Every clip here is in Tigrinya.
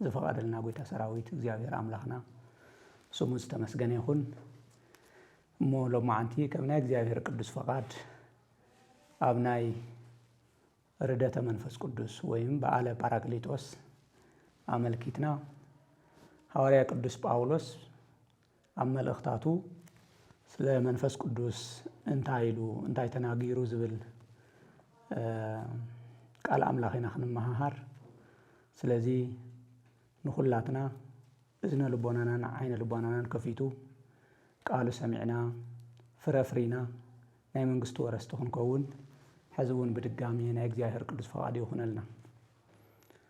ዝፈቐደልና ጐይታ ሰራዊት እግዚኣብሔር ኣምላኽና ስሙ ዝተመስገነ ይኹን። እሞ ሎማዓንቲ ከም ናይ እግዚኣብሔር ቅዱስ ፈቓድ ኣብ ናይ ርደተ መንፈስ ቅዱስ ወይም በዓለ ጳራቅሊጦስ ኣመልኪትና ሃዋርያ ቅዱስ ጳውሎስ ኣብ መልእኽታቱ ስለ መንፈስ ቅዱስ እንታይ ኢሉ እንታይ ተናጊሩ ዝብል ቃል ኣምላኽ ኢና ክንመሃሃር ስለዚ ንኹላትና እዝነ ልቦናናን ዓይነ ልቦናናን ከፊቱ ቃሉ ሰሚዕና ፍረ ፍሪና ናይ መንግስቱ ወረስቲ ክንከውን ሕዚ እውን ብድጋሚ ናይ እግዚኣብሔር ቅዱስ ፈቃዱ ይኹነልና።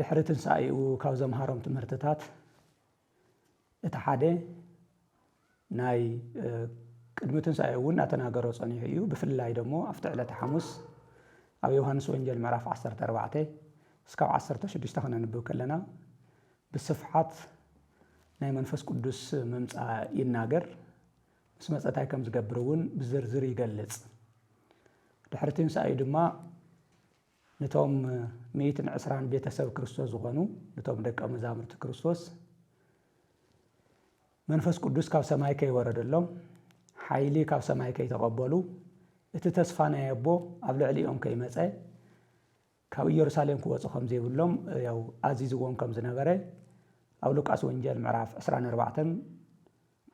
ድሕሪ ትንሳኤኡ ካብ ዘምሃሮም ትምህርትታት እቲ ሓደ ናይ ቅድሚ ትንሳኤ እውን እናተናገሮ ጸኒሑ እዩ። ብፍላይ ደሞ ኣብቲ ዕለተ ሓሙስ ኣብ ዮሃንስ ወንጌል ምዕራፍ 14 እስካብ 16 ክነንብብ ከለና ብስፍሓት ናይ መንፈስ ቅዱስ ምምፃእ ይናገር ምስ መፀ እንታይ ከም ዝገብር እውን ብዝርዝር ይገልፅ ድሕሪ ትንሳኤ ድማ ንቶም ሚእትን ዕስራን ቤተ ሰብ ክርስቶስ ዝኾኑ ንቶም ደቀ መዛሙርቲ ክርስቶስ መንፈስ ቅዱስ ካብ ሰማይ ከይወረደሎም ሓይሊ ካብ ሰማይ ከይተቐበሉ እቲ ተስፋ ናይ ኣቦ ኣብ ልዕሊኦም ከይመፀ ካብ ኢየሩሳሌም ክወፁ ከም ዘይብሎም ያው ኣዚዝዎም ከም ዝነበረ ኣብ ሉቃስ ወንጌል ምዕራፍ 24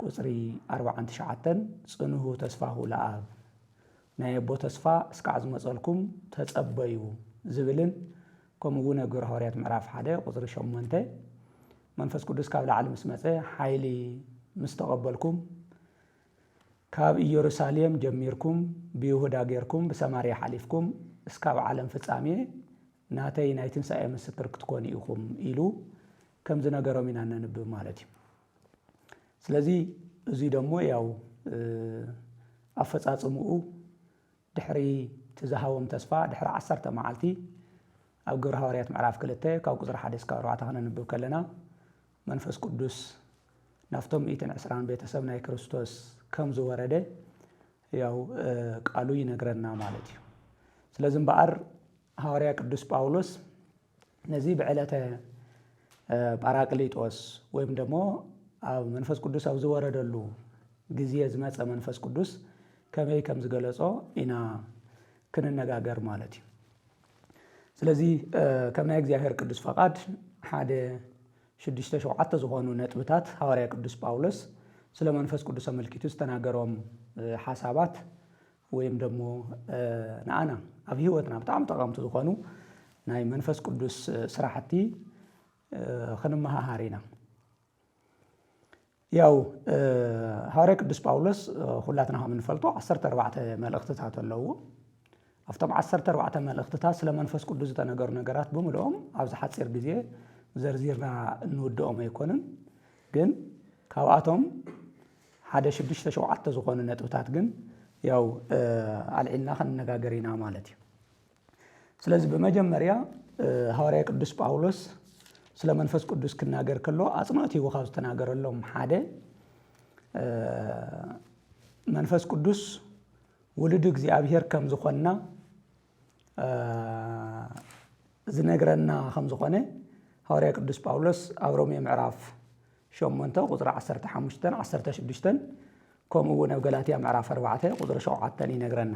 ቁጽሪ ኣርብዓን ትሽዓተን ጽንሁ ተስፋሁ ለኣብ ናይ ኣቦ ተስፋ እስካዕ ዝመጸልኩም ተጸበዩ ዝብልን ከምኡ ውን ኣብ ግብረ ሃዋርያት ምዕራፍ ሓደ ቁጽሪ ሸሞንተ መንፈስ ቅዱስ ካብ ላዕሊ ምስ መጸ ሓይሊ ምስ ተቐበልኩም ካብ ኢየሩሳሌም ጀሚርኩም ብይሁዳ ጌርኩም ብሰማርያ ሓሊፍኩም እስካብ ዓለም ፍጻሜ ናተይ ናይ ትንሳኤ ምስክር ክትኮኑ ኢኹም ኢሉ ከም ዝነገሮም ኢና እነንብብ ማለት እዩ። ስለዚ እዙይ ደሞ ያው ኣፈፃፅምኡ ድሕሪ እቲ ዝሃቦም ተስፋ ድሕሪ ዓሰርተ መዓልቲ ኣብ ግብረ ሃዋርያት ምዕራፍ ክልተ ካብ ቁፅሪ ሓደ እስካብ ኣርባዕተ ከነንብብ ከለና መንፈስ ቅዱስ ናብቶም ሚእትን ዕስራን ቤተሰብ ናይ ክርስቶስ ከም ዝወረደ ያው ቃሉ ይነግረና ማለት እዩ። ስለዚ እምበኣር ሃዋርያ ቅዱስ ጳውሎስ ነዚ ብዕለተ ጳራቅሊጦስ ወይም ደሞ ኣብ መንፈስ ቅዱስ ኣብ ዝወረደሉ ግዜ ዝመጸ መንፈስ ቅዱስ ከመይ ከም ዝገለጾ ኢና ክንነጋገር ማለት እዩ። ስለዚ ከም ናይ እግዚኣብሔር ቅዱስ ፈቓድ ሓደ ሽዱሽተ ሸውዓተ ዝኾኑ ነጥብታት ሃዋርያ ቅዱስ ጳውሎስ ስለ መንፈስ ቅዱስ ኣመልኪቱ ዝተናገሮም ሓሳባት ወይም ደሞ ንኣና ኣብ ህይወትና ብጣዕሚ ጠቐምቲ ዝኾኑ ናይ መንፈስ ቅዱስ ስራሕቲ ክንመሃሃር ኢና። ያው ሃዋርያ ቅዱስ ጳውሎስ ኹላትና ከም እንፈልጦ ዓሰርተ ኣርባዕተ መልእኽትታት ኣለዎ ኣብቶም ዓሰርተ ኣርባዕተ መልእኽትታት ስለ መንፈስ ቅዱስ ዝተነገሩ ነገራት ብምልኦም ኣብዚ ሓፂር ግዜ ዘርዚርና እንውድኦም ኣይኮኑን ግን ካብኣቶም ሓደ ሽዱሽተ ሸውዓተ ዝኾኑ ነጥብታት ግን ያው ኣልዒልና ክንነጋገር ኢና ማለት እዩ። ስለዚ ብመጀመርያ ሃዋርያ ቅዱስ ጳውሎስ ስለ መንፈስ ቅዱስ ክናገር ከሎ ኣጽንኦት ሂቡ ካብ ዝተናገረሎም ሓደ መንፈስ ቅዱስ ውሉድ እግዚኣብሔር ከም ዝኾንና ዝነግረና ከም ዝኾነ ሃዋርያ ቅዱስ ጳውሎስ ኣብ ሮሜ ምዕራፍ ሸሞንተ ቁፅሪ ዓሰርተ ሓሙሽተን ዓሰርተ ሽዱሽተን ከምኡ እውን ኣብ ገላትያ ምዕራፍ ኣርባዕተ ቁፅሪ ሸውዓተን ይነግረና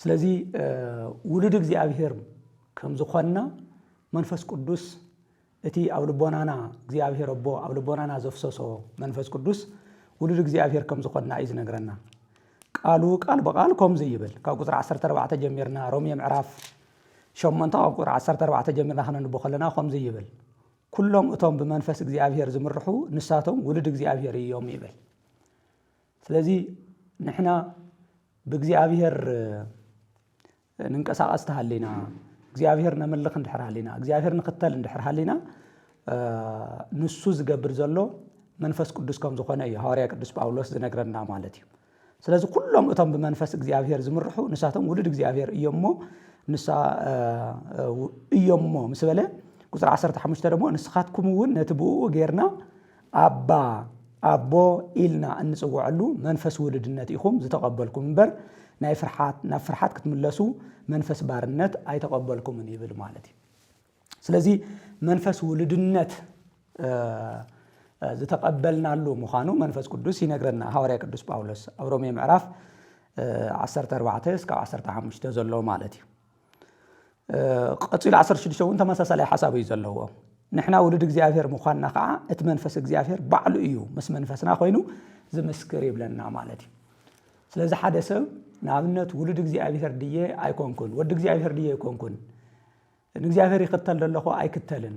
ስለዚ ውሉድ እግዚኣብሄር ከም ዝኾንና መንፈስ ቅዱስ እቲ ኣብ ልቦናና እግዚኣብሔር ኣቦ ኣብ ልቦናና ዘፍሰሶ መንፈስ ቅዱስ ውሉድ እግዚኣብሔር ከም ዝኾንና እዩ ዝነግረና። ቃሉ ቃል ብቃል ከምዚ ይብል ካብ ቁፅሪ 14 ጀሚርና ሮሜ ምዕራፍ ሸሞንተ ካብ ቁፅሪ 14 ጀሚርና ክነንቦ ከለና ከምዚ ይብል ኩሎም እቶም ብመንፈስ እግዚኣብሔር ዝምርሑ ንሳቶም ውልድ እግዚኣብሔር እዮም ይብል ስለዚ ንሕና ብእግዚኣብሔር ንንቀሳቐስ ተሃሊና፣ እግዚኣብሄር ነምልኽ እንድሕር ሃሊና፣ እግዚኣብሄር ንኽተል እንድሕር ሃሊና፣ ንሱ ዝገብር ዘሎ መንፈስ ቅዱስ ከም ዝኾነ እዩ ሃዋርያ ቅዱስ ጳውሎስ ዝነግረና ማለት እዩ። ስለዚ ኩሎም እቶም ብመንፈስ እግዚኣብሄር ዝምርሑ ንሳቶም ውሉድ እግዚኣብሄር እዮም እሞ ንሳ እዮም እሞ ምስ በለ ቁፅሪ 15 ደሞ ንስኻትኩም እውን ነቲ ብእኡ ጌርና ኣባ፣ ኣቦ፣ ኢልና እንጽውዐሉ መንፈስ ውሉድነት ኢኹም ዝተቐበልኩም እምበር፣ ናይ ፍርሓት፣ ናብ ፍርሓት ክትምለሱ መንፈስ ባርነት ኣይተቐበልኩምን ይብል ማለት እዩ። ስለዚ መንፈስ ውሉድነት ዝተቐበልናሉ ምዃኑ መንፈስ ቅዱስ ይነግረና። ሃዋርያ ቅዱስ ጳውሎስ ኣብ ሮሜ ምዕራፍ ዓሰርተ ኣርባዕተ እስካብ ዓሰርተ ሓሙሽተ ዘሎ ማለት እዩ። ቀጺሉ ዓሰርተ ሽዱሽተ እውን ተመሳሳላይ ሓሳብ እዩ ዘለዎ ንሕና ውሉድ እግዚኣብሔር ምዃንና ከዓ እቲ መንፈስ እግዚኣብሔር ባዕሉ እዩ ምስ መንፈስና ኮይኑ ዝምስክር ይብለና ማለት እዩ ስለዚ ሓደ ሰብ ንኣብነት ውሉድ እግዚኣብሔር ድየ ኣይኮንኩን ወዲ እግዚኣብሔር ድየ ኣይኮንኩን ንእግዚኣብሔር ይኽተል ዘለኹ ኣይክተልን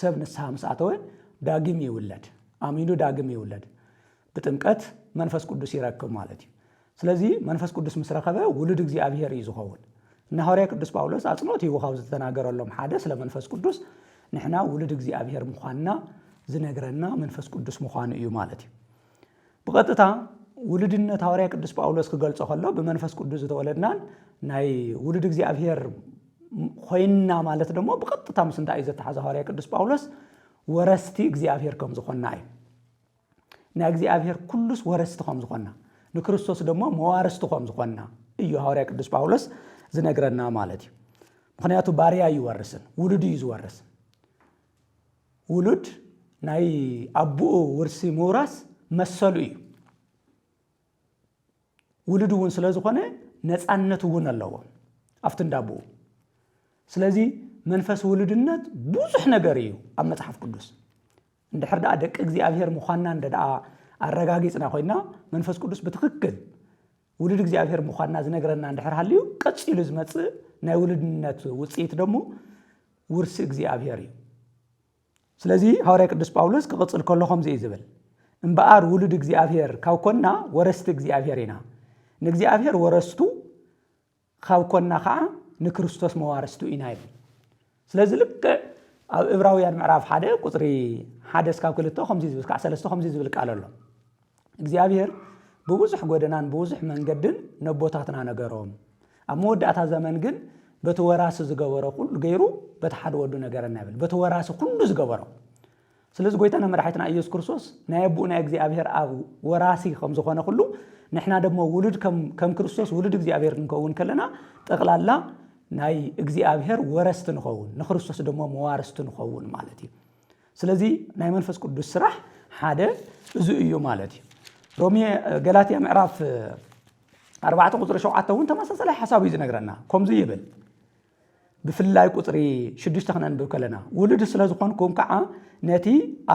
ሰብ ንስሓ ምስ ኣተወ ዳግም ይውለድ፣ ኣሚኑ ዳግም ይውለድ፣ ብጥምቀት መንፈስ ቅዱስ ይረክብ ማለት እዩ። ስለዚ መንፈስ ቅዱስ ምስ ረኸበ ውሉድ እግዚኣብሄር እዩ ዝኸውን። እና ሃዋርያ ቅዱስ ጳውሎስ ኣጽንኦት ሂቡ ካብ ዝተናገረሎም ሓደ ስለ መንፈስ ቅዱስ ንሕና ውሉድ እግዚኣብሄር ምዃንና ዝነግረና መንፈስ ቅዱስ ምዃኑ እዩ ማለት እዩ። ብቐጥታ ውሉድነት ሃዋርያ ቅዱስ ጳውሎስ ክገልጾ ከሎ ብመንፈስ ቅዱስ ዝተወለድናን ናይ ውሉድ እግዚኣብሔር ኮይንና ማለት ደሞ ብቐጥታ ምስ እንታይ እዩ ዘተሓዘ ሃዋርያ ቅዱስ ጳውሎስ ወረስቲ እግዚኣብሔር ከም ዝኾንና እዩ ናይ እግዚኣብሔር ኩሉስ ወረስቲ ከም ዝኾንና ንክርስቶስ ደሞ መዋርስቲ ከም ዝኾንና እዩ ሃዋርያ ቅዱስ ጳውሎስ ዝነግረና ማለት እዩ ምክንያቱ ባርያ ይወርስን ውሉድ እዩ ዝወርስ ውሉድ ናይ ኣቡኡ ውርሲ ምውራስ መሰሉ እዩ። ውሉድ እውን ስለ ዝኾነ ነፃነት እውን ኣለዎ ኣብቲ እንዳ ኣቡኡ። ስለዚ መንፈስ ውሉድነት ብዙሕ ነገር እዩ ኣብ መፅሓፍ ቅዱስ። እንድሕር ደኣ ደቂ እግዚኣብሔር ምዃንና እንደ ደኣ ኣረጋጊፅና ኮይና መንፈስ ቅዱስ ብትኽክል ውሉድ እግዚኣብሔር ምዃንና ዝነግረና እንድሕር ሃልዩ ቀጺሉ ዝመጽእ ናይ ውሉድነት ውጽኢት ደሞ ውርሲ እግዚኣብሔር እዩ። ስለዚ ሃዋርያ ቅዱስ ጳውሎስ ክቕጽል ከሎ ከምዚ እዩ ዝብል እምበኣር ውሉድ እግዚኣብሔር ካብ ኮንና ወረስቲ እግዚኣብሔር ኢና ንእግዚኣብሔር ወረስቱ ኻብ ኰንና ኸኣ ንክርስቶስ መዋርስቱ ኢና ይብል። ስለዚ ልክዕ ኣብ እብራውያን ምዕራፍ ሓደ ቁጽሪ ሓደ ስካብ ክልተ ከምዚ ዝብል ስካዕ ሰለስተ ከምዚ ዝብል ቃል ኣሎ እግዚኣብሄር ብብዙሕ ጐደናን ብብዙሕ መንገድን ነቦታትና ነገሮም ኣብ መወዳእታ ዘመን ግን በቲ ወራሲ ዝገበሮ ኩሉ ገይሩ በቲ ሓደ ወዱ ነገረና ይብል በቲ ወራሲ ኩሉ ዝገበሮ ስለዚ ጎይታና መድሓይትና ኢየሱስ ክርስቶስ ናይ ኣቡኡ ናይ እግዚኣብሔር ኣብ ወራሲ ከም ዝኾነ ኩሉ ንሕና ደሞ ውሉድ ከም ክርስቶስ ውሉድ እግዚኣብሔር ክንከውን ከለና ጠቕላላ ናይ እግዚኣብሔር ወረስቲ ንኸውን ንክርስቶስ ደሞ መዋርስቲ ንኸውን ማለት እዩ ስለዚ ናይ መንፈስ ቅዱስ ስራሕ ሓደ እዚ እዩ ማለት እዩ ሮሜ ገላትያ ምዕራፍ ኣርባዕተ ቁፅሪ ሸውዓተ እውን ተመሳሳላይ ሓሳብ እዩ ዝነግረና ከምዚ ይብል ብፍላይ ቁጽሪ ሽዱሽተ ክነንብብ ከለና፣ ውሉድ ስለ ዝኾንኩም ከኣ ነቲ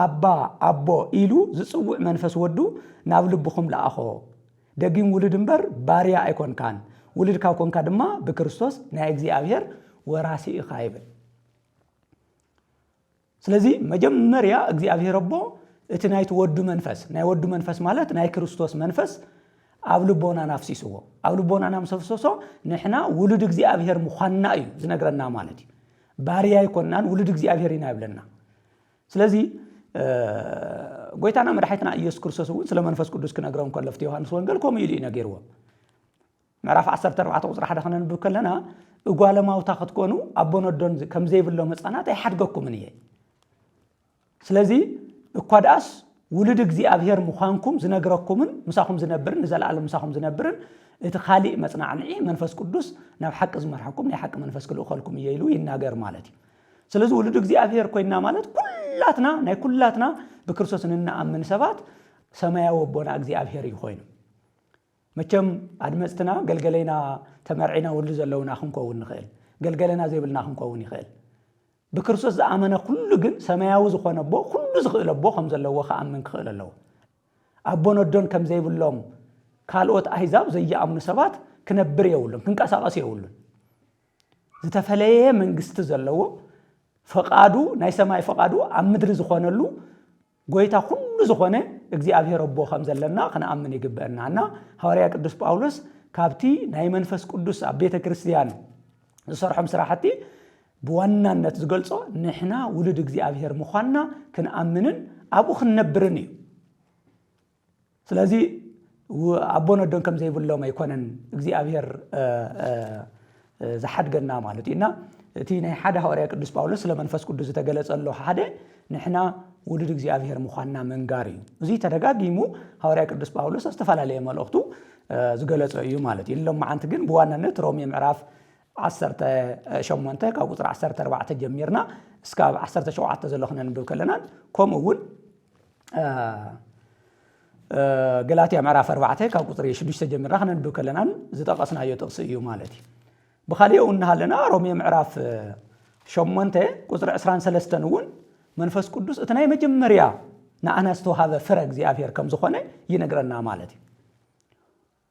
ኣባ፣ ኣቦ፣ ኢሉ ዝጽውዕ መንፈስ ወዱ ናብ ልብኹም ለኣኾ። ደጊም ውሉድ እምበር ባርያ ኣይኮንካን፣ ውሉድ ካብ ኮንካ ድማ ብክርስቶስ ናይ እግዚኣብሔር ወራሲ ኢኻ ይብል። ስለዚ መጀመርያ እግዚኣብሄር ኣቦ እቲ ናይቲ ወዱ መንፈስ ናይ ወዱ መንፈስ ማለት ናይ ክርስቶስ መንፈስ ኣብ ልቦናና ኣፍሲስዎ ኣብ ልቦናና ምስ ኣፍሰሶ ንሕና ውሉድ እግዚኣብሄር ምዃንና እዩ ዝነግረና ማለት እዩ ባርያ ኣይኮናን ውሉድ እግዚኣብሄር ኢና ይብለና ስለዚ ጎይታና መድሓይትና ኢየሱስ ክርስቶስ እውን ስለ መንፈስ ቅዱስ ክነግሮም ከሎ ፍቲ ዮሃንስ ወንጌል ከምኡ ኢሉ እዩ ነጊርዎም ምዕራፍ ዓሰርተ ኣርባዕተ ቁጽሪ ሓደ ከነንብብ ከለና እጓለ ማውታ ክትኮኑ ኣቦን ኣዶን ከም ዘይብሎም ህጻናት ኣይሓድገኩምን እየ ስለዚ እኳ ደኣስ ውሉድ እግዚኣብሔር ምዃንኩም ዝነግረኩምን ምሳኹም ዝነብርን ንዘለኣለም ምሳኹም ዝነብርን እቲ ካሊእ መጽናዕንዒ መንፈስ ቅዱስ ናብ ሓቂ ዝመርሐኩም ናይ ሓቂ መንፈስ ክልእኸልኩም እየ ኢሉ ይናገር ማለት እዩ ስለዚ ውሉድ እግዚኣብሔር ኮይና ማለት ኩላትና ናይ ኩላትና ብክርስቶስ ንንኣምን ሰባት ሰማያዊ ኣቦና እግዚኣብሔር እዩ ኮይኑ መቸም ኣድመጽትና ገልገሌና ተመርዒና ወልዱ ዘለውና ክንኮውን ንክእል ገልገለና ዘይብልና ክንኮውን ይክእል ብክርስቶስ ዝኣመነ ኩሉ ግን ሰማያዊ ዝኾነ ኣቦ ኩሉ ዝክእል ኣቦ ከም ዘለዎ ክኣምን ክክእል ኣለዎ ኣቦን ኣዶን ከም ዘይብሎም ካልኦት ኣህዛብ ዘይኣምኑ ሰባት ክነብር የብሉን ክንቀሳቀስ የብሉን ዝተፈለየ መንግስቲ ዘለዎ ፈቃዱ ናይ ሰማይ ፈቃዱ ኣብ ምድሪ ዝኾነሉ ጐይታ ዅሉ ዝዀነ እግዚኣብሄር ኣቦ ኸም ዘለና ኽንኣምን ይግብአና እና ሃዋርያ ቅዱስ ጳውሎስ ካብቲ ናይ መንፈስ ቅዱስ ኣብ ቤተ ክርስትያን ዝሰርሖም ስራሕቲ ብዋናነት ዝገልጾ ንሕና ውሉድ እግዚኣብሄር ምዃንና ክንኣምንን ኣብኡ ክንነብርን እዩ። ስለዚ ኣቦን ኣዶን ከም ዘይብሎም ኣይኮነን እግዚኣብሔር ዝሓድገና ማለት እዩ እና እቲ ናይ ሓደ ሃዋርያ ቅዱስ ጳውሎስ ስለ መንፈስ ቅዱስ ዝተገለጸሎ ሓደ ንሕና ውሉድ እግዚኣብሔር ምዃንና ምንጋር እዩ እዚ ተደጋጊሙ ሃዋርያ ቅዱስ ጳውሎስ ኣብ ዝተፈላለየ መልእኽቱ ዝገለጸ እዩ ማለት እዩ ሎም መዓንቲ ግን ብዋናነት ሮሜ ምዕራፍ 18 ካብ ቁፅሪ 14 ጀሚርና እስካብ 17 ዘሎ ክነንብብ ከለናን ከምኡ እውን ገላትያ ምዕራፍ ኣርባዕተ ካብ ቁፅሪ ሽዱሽተ ጀሚርና ክነንብብ ከለና ዝጠቐስናዮ ጥቕሲ እዩ ማለት እዩ ብካሊእ እውን እናሃለና ሮሜ ምዕራፍ ሸሞንተ ቁፅሪ ዕስራን ሰለስተን እውን መንፈስ ቅዱስ እቲ ናይ መጀመርያ ንኣና ዝተዋሃበ ፍረ እግዚኣብሔር ከም ዝኾነ ይነግረና ማለት እዩ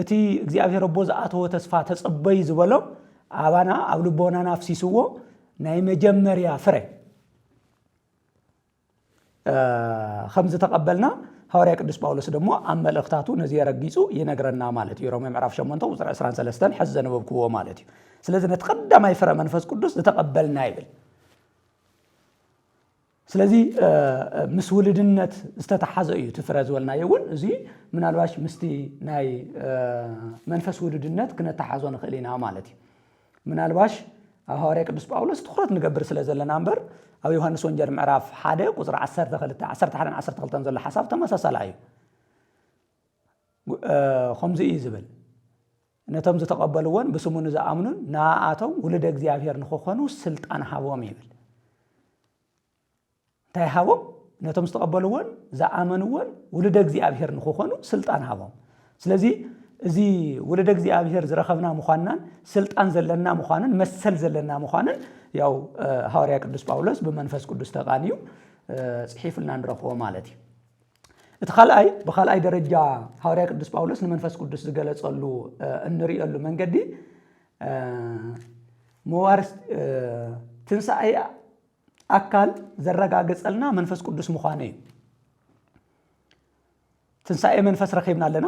እቲ እግዚኣብሔር ኣቦ ዝኣተዎ ተስፋ ተጸበዩ ዝበሎ ኣባና ኣብ ልቦናና ኣፍሲስዎ ናይ መጀመርያ ፍረ ከም ዝተቐበልና ሃዋርያ ቅዱስ ጳውሎስ ደሞ ኣብ መልእኽታቱ ነዚ የረጊጹ ይነግረና ማለት እዩ ሮሜ ምዕራፍ 8 ቁፅሪ 23 ሕዚ ዘነበብክዎ ማለት እዩ ስለዚ ነቲ ቀዳማይ ፍረ መንፈስ ቅዱስ ዝተቐበልና ይብል ስለዚ ምስ ውልድነት ዝተተሓዘ እዩ እቲ ፍረ ዝበልናዮ እውን እዚ ምናልባሽ ምስቲ ናይ መንፈስ ውልድነት ክነተሓዞ ንኽእል ኢና ማለት እዩ ምናልባሽ ኣብ ሃዋርያ ቅዱስ ጳውሎስ ትኩረት ንገብር ስለ ዘለና እምበር ኣብ ዮሃንስ ወንጀል ምዕራፍ ሓደ ቁፅሪ 12 11 12 ዘሎ ሓሳብ ተመሳሳላ እዩ ከምዚ እዩ ዝብል ነቶም ዝተቐበልዎን ብስሙ ንዝኣምኑን ንኣኣቶም ውሉደ እግዚኣብሔር ንክኾኑ ሥልጣን ሃቦም ይብል። እንታይ ሃቦም? ነቶም ዝተቐበልዎን ዝኣመንዎን ውሉደ እግዚኣብሔር ንክኾኑ ሥልጣን ሃቦም። ስለዚ እዚ ውሉደ እግዚኣብሔር ዝረኸብና ምዃንናን ሥልጣን ዘለና ምዃንን መሰል ዘለና ምዃንን ያው ሃዋርያ ቅዱስ ጳውሎስ ብመንፈስ ቅዱስ ተቓንዩ ጽሒፉልና ንረኽቦ ማለት እዩ። እቲ ካልኣይ ብካልኣይ ደረጃ ሃዋርያ ቅዱስ ጳውሎስ ንመንፈስ ቅዱስ ዝገለጸሉ እንርእየሉ መንገዲ መዋርስ ትንሣኤ ኣካል ዘረጋግጸልና መንፈስ ቅዱስ ምዃኑ እዩ ትንሣኤ መንፈስ ረኺብና ኣለና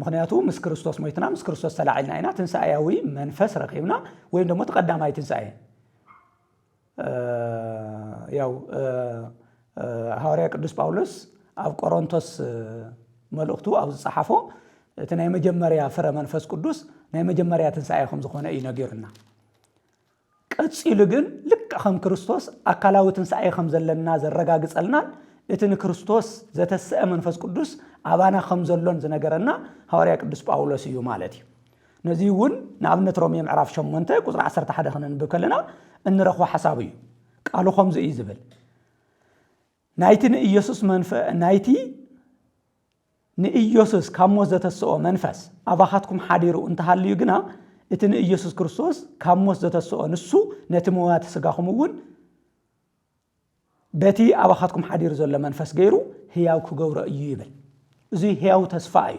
ምኽንያቱ ምስ ክርስቶስ ሞይትና ምስ ክርስቶስ ተላዒልና ኢና ትንሳኤያዊ መንፈስ ረኺብና ወይም ደሞ እቲ ቀዳማይ ትንሳኤ ያው ሃዋርያ ቅዱስ ጳውሎስ ኣብ ቆሮንቶስ መልእኽቱ ኣብ ዝጸሓፎ እቲ ናይ መጀመርያ ፍረ መንፈስ ቅዱስ ናይ መጀመርያ ትንሳኤ ከም ዝኾነ እዩ ነጊሩና ቀጺሉ ግን ልክዕ ከም ክርስቶስ ኣካላዊ ትንሳኤ ከም ዘለና ዘረጋግጸልናን እቲ ንክርስቶስ ዘተስኣ መንፈስ ቅዱስ ኣባና ከም ዘሎን ዝነገረና ሃዋርያ ቅዱስ ጳውሎስ እዩ ማለት እዩ። ነዚ እውን ንኣብነት ሮሜ ምዕራፍ ሸሞንተ ቁጽሪ ዓሰርተ ሓደ ከነንብብ ከለና እንረኽቦ ሓሳብ እዩ። ቃሉ ከምዚ እዩ ዝብል ናይቲ ንኢየሱስ መንፈ ናይቲ ንኢየሱስ ካብ ሞት ዘተስኦ መንፈስ ኣባኻትኩም ሓዲሩ እንተሃልዩ ግና እቲ ንኢየሱስ ክርስቶስ ካብ ሞት ዘተስኦ ንሱ ነቲ መዋቲ ስጋኹም እውን በቲ ኣባኻትኩም ሓዲሩ ዘሎ መንፈስ ገይሩ ህያው ክገብሮ እዩ ይብል እዙይ ህያው ተስፋ እዩ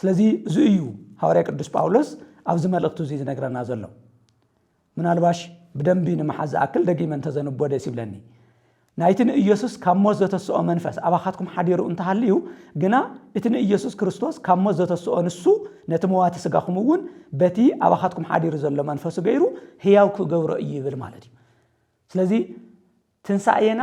ስለዚ እዚ እዩ ሃዋርያ ቅዱስ ጳውሎስ ኣብዚ መልእኽቱ እዚ ዝነግረና ዘሎ። ምናልባሽ ብደንቢ ንምሓዝ ዝኣክል ደጊመ እንተዘንቦ ደስ ይብለኒ። ናይቲ ንኢየሱስ ካብ ሞት ዘተስኦ መንፈስ ኣባኻትኩም ሓዲሩ እንተሃልዩ ግና እቲ ንኢየሱስ ክርስቶስ ካብ ሞት ዘተስኦ ንሱ ነቲ መዋቲ ስጋኹም እውን በቲ ኣባኻትኩም ሓዲሩ ዘሎ መንፈሱ ገይሩ ህያው ክገብሮ እዩ ይብል ማለት እዩ። ስለዚ ትንሣኤና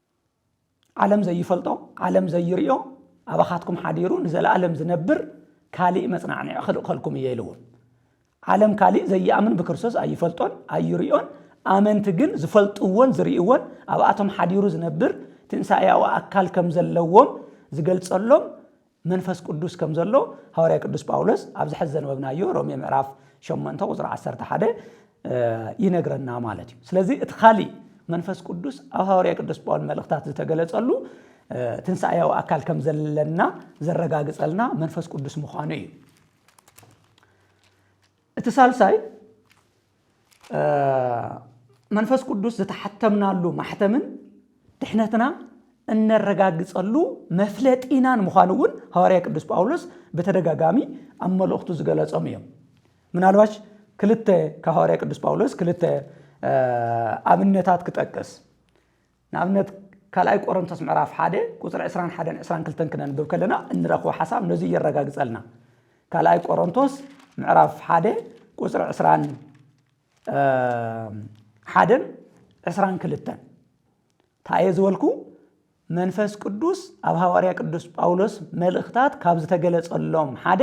ዓለም ዘይፈልጦ ዓለም ዘይርዮ ኣባኻትኩም ሓዲሩ ንዘለኣለም ዝነብር ካሊእ መጽናዕንዒ ክልእኸልኩም እየ ኢሉ እውን ዓለም ካሊእ ዘይኣምን ብክርስቶስ ኣይፈልጦን ኣይርዮን ኣመንቲ ግን ዝፈልጥዎን ዝርእይዎን ኣብኣቶም ሓዲሩ ዝነብር ትንሳኤያዊ ኣካል ከም ዘለዎም ዝገልጸሎም መንፈስ ቅዱስ ከም ዘሎ ሃዋርያ ቅዱስ ጳውሎስ ኣብዚ ሕዚ ዘንበብናዮ ሮሜ ምዕራፍ ሸሞንተ ቁጽሪ ዓሰርተ ሓደ ይነግረና ማለት እዩ። ስለዚ እቲ ካሊእ መንፈስ ቅዱስ ኣብ ሃዋርያ ቅዱስ ጳውሎስ መልእኽታት ዝተገለጸሉ ትንሳኤያዊ ኣካል ከም ዘለና ዘረጋግጸልና መንፈስ ቅዱስ ምዃኑ እዩ። እቲ ሳልሳይ መንፈስ ቅዱስ ዝተሓተምናሉ ማሕተምን ድሕነትና እነረጋግጸሉ መፍለጢናን ምዃኑ እውን ሃዋርያ ቅዱስ ጳውሎስ ብተደጋጋሚ ኣብ መልእኽቱ ዝገለጾም እዮም ምናልባሽ ክልተ ካብ ሃዋርያ ቅዱስ ጳውሎስ ክልተ ኣብነታት ክጠቅስ ንኣብነት ካልኣይ ቆረንቶስ ምዕራፍ ሓደ ቁጽሪ ዕስራን ሓደን ዕስራን ክልተን ክነንብብ ከለና እንረኽቦ ሓሳብ ነዙይ የረጋግጸልና። ካልኣይ ቆረንቶስ ምዕራፍ ሓደ ቁጽሪ ዕስራን ሓደን ዕስራን ክልተን እንታይ እየ ዝበልኩ? መንፈስ ቅዱስ ኣብ ሃዋርያ ቅዱስ ጳውሎስ መልእኽታት ካብ ዝተገለጸሎም ሓደ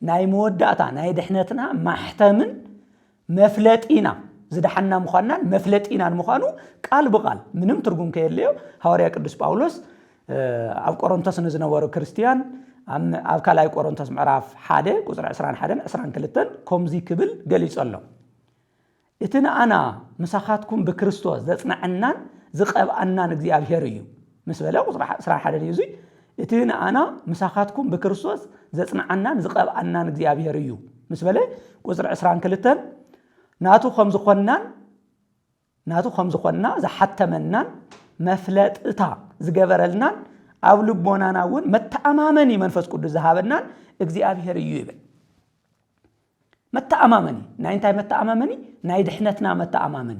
ናይ መወዳእታ ናይ ድሕነትና ማሕተምን መፍለጢና ዝደሓንና ምዃንናን መፍለጢናን ምዃኑ ቃል ብቓል ምንም ትርጉም ከየድልዮ ሃዋርያ ቅዱስ ጳውሎስ ኣብ ቆሮንቶስ ንዝነበሩ ክርስትያን ኣብ ካልኣይ ቆሮንቶስ ምዕራፍ ሓደ ቁፅሪ 21 22 ከምዚ ክብል ገሊጸሎም እቲ ንኣና ምሳኻትኩም ብክርስቶስ ዘጽናዐናን ዝቐብኣናን እግዚኣብሔር እዩ ምስ በለ ቁጽሪ ዕስራን ሓደን እዩ እዙይ እቲ ንኣና ምሳኻትኩም ብክርስቶስ ዘጽንዓናን ዝቐብኣናን እግዚኣብሔር እዩ ምስ በለ ቁጽሪ ዕስራን ክልተን ናቱ ከም ዝኾንናን ናቱ ከም ዝኾንና ዝሓተመናን መፍለጥታ ዝገበረልናን ኣብ ልቦናና እውን መተኣማመኒ መንፈስ ቅዱስ ዝሃበናን እግዚኣብሄር እዩ ይብል መተኣማመኒ ናይ እንታይ መተኣማመኒ ናይ ድሕነትና መተኣማመኒ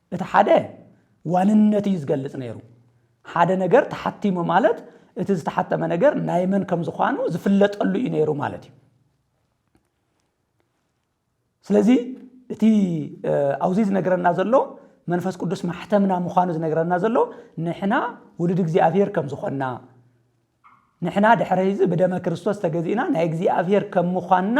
እቲ ሓደ ዋንነት እዩ ዝገልጽ ነይሩ። ሓደ ነገር ተሓቲሙ ማለት እቲ ዝተሓተመ ነገር ናይ መን ከም ዝዃኑ ዝፍለጠሉ እዩ ነይሩ ማለት እዩ። ስለዚ እቲ ኣብዚ ዝነግረና ዘሎ መንፈስ ቅዱስ ማሕተምና ምዃኑ ዝነግረና ዘሎ ንሕና ውሉድ እግዚኣብሔር ከም ዝኾንና ንሕና ድሕረ እዚ ብደመ ክርስቶስ ተገዚእና ናይ እግዚኣብሔር ከም ምዃንና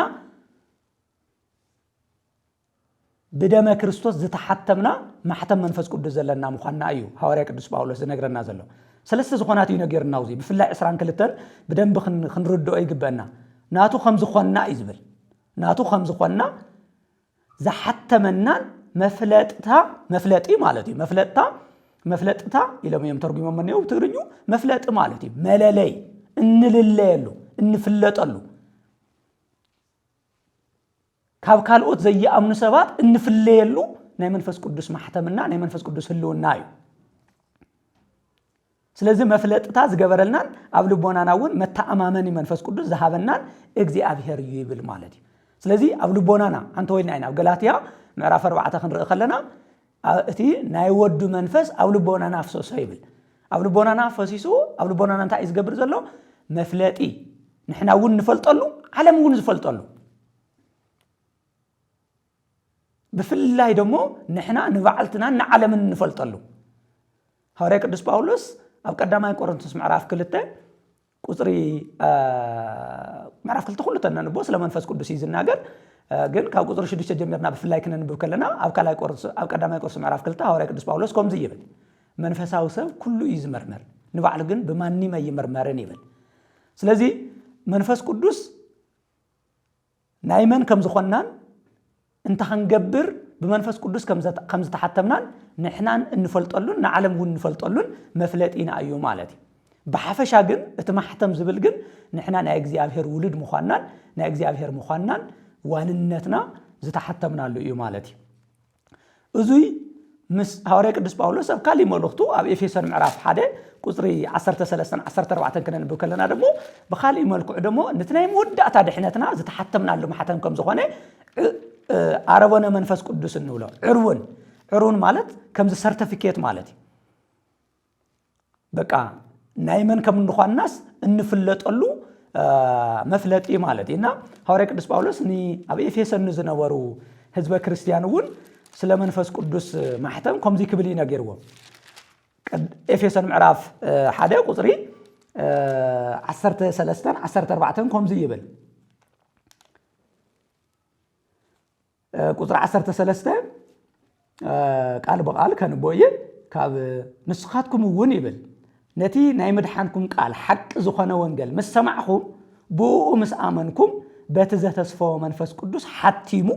ብደመ ክርስቶስ ዝተሓተምና ማሕተም መንፈስ ቅዱስ ዘለና ምዃንና እዩ ሃዋርያ ቅዱስ ጳውሎስ ዝነግረና ዘሎ። ሰለስተ ዝኾናት እዩ ነጊርና ኣብዚ ብፍላይ ዕስራን ክልተን ብደንቢ ክንርድኦ ይግበአና። ናቱ ከም ዝኾንና እዩ ዝብል ናቱ ከም ዝኾንና ዝሓተመናን መፍለጥታ መፍለጢ ማለት እዩ መፍለጥታ መፍለጥታ ኢሎም እዮም ተርጉሞም እኒው ትግርኙ መፍለጢ ማለት እዩ መለለይ እንልለየሉ እንፍለጠሉ ካብ ካልኦት ዘይኣምኑ ሰባት እንፍለየሉ ናይ መንፈስ ቅዱስ ማሕተምና ናይ መንፈስ ቅዱስ ህልውና እዩ ስለዚ መፍለጥታ ዝገበረልናን ኣብ ልቦናና እውን መተኣማመኒ መንፈስ ቅዱስ ዝሃበናን እግዚኣብሄር እዩ ይብል ማለት እዩ ስለዚ ኣብ ልቦናና ኣንተ ወይልና ኢና ኣብ ገላትያ ምዕራፍ ኣርባዕተ ክንርኢ ከለና እቲ ናይ ወዱ መንፈስ ኣብ ልቦናና ኣፍሰሶ ይብል ኣብ ልቦናና ፈሲሱ ኣብ ልቦናና እንታይ እዩ ዝገብር ዘሎ መፍለጢ ንሕና እውን ንፈልጠሉ ዓለም እውን ዝፈልጠሉ ብፍላይ ደሞ ንሕና ንባዕልትናን ንዓለምን ንፈልጠሉ ሃዋርያ ቅዱስ ጳውሎስ ኣብ ቀዳማይ ቆሮንቶስ ምዕራፍ ክልተ ቁጽሪ ምዕራፍ ክልተ ኩሉ ተነንቦ ስለ መንፈስ ቅዱስ እዩ ዝናገር ግን ካብ ቁጽሪ ሽዱሽተ ጀሚርና ብፍላይ ክነንብብ ከለና ኣብ ካልኣይ ቆሮንቶስ ኣብ ቀዳማይ ቆሮንቶስ ምዕራፍ ክልተ ሃዋርያ ቅዱስ ጳውሎስ ከምዚ ይብል መንፈሳዊ ሰብ ኩሉ እዩ ዝመርመር ንባዕሉ ግን ብማንም ኣይምርመርን ይብል ስለዚ መንፈስ ቅዱስ ናይ መን ከም ዝኾንናን እንታ ክንገብር ብመንፈስ ቅዱስ ከም ዝተሓተምናን ንሕናን እንፈልጠሉን ንዓለም እውን እንፈልጠሉን መፍለጢና እዩ ማለት እዩ። ብሓፈሻ ግን እቲ ማሕተም ዝብል ግን ንሕና ናይ እግዚኣብሔር ውሉድ ምዃንናን ናይ እግዚኣብሔር ምዃንናን ዋንነትና ዝተሓተምናሉ እዩ ማለት እዩ። እዙይ ምስ ሃዋርያ ቅዱስ ጳውሎስ ኣብ ካሊእ መልእኽቱ ኣብ ኤፌሶን ምዕራፍ ሓደ ቁፅሪ 13 14 ክነንብብ ከለና ደሞ ብካሊእ መልክዑ ደሞ ነቲ ናይ መወዳእታ ድሕነትና ዝተሓተምናሉ ማሕተም ከም ዝኾነ ኣረቦነ መንፈስ ቅዱስ እንብሎ ዕርውን ዕርውን ማለት ከምዚ ሰርተፊኬት ማለት እዩ በቃ ናይ መን ከም እንኳናስ እንፍለጠሉ መፍለጢ ማለት እዩ እና ሃዋርያ ቅዱስ ጳውሎስ ን ኣብ ኤፌሶን ንዝነበሩ ህዝበ ክርስትያን እውን ስለ መንፈስ ቅዱስ ማሕተም ከምዚ ክብል እዩ ነጊርዎ ኤፌሶን ምዕራፍ ሓደ ቁፅሪ 13 14 ከምዚ ይብል ቁፅሪ ዓሰርተ ሰለስተ ቃል ብቓል ከንቦ እየ ካብ ንስኻትኩም እውን ይብል ነቲ ናይ ምድሓንኩም ቃል ሓቂ ዝኾነ ወንገል ምስ ሰማዕኹም ብእኡ ምስ ኣመንኩም በቲ ዘተስፈወ መንፈስ ቅዱስ ሓቲሙ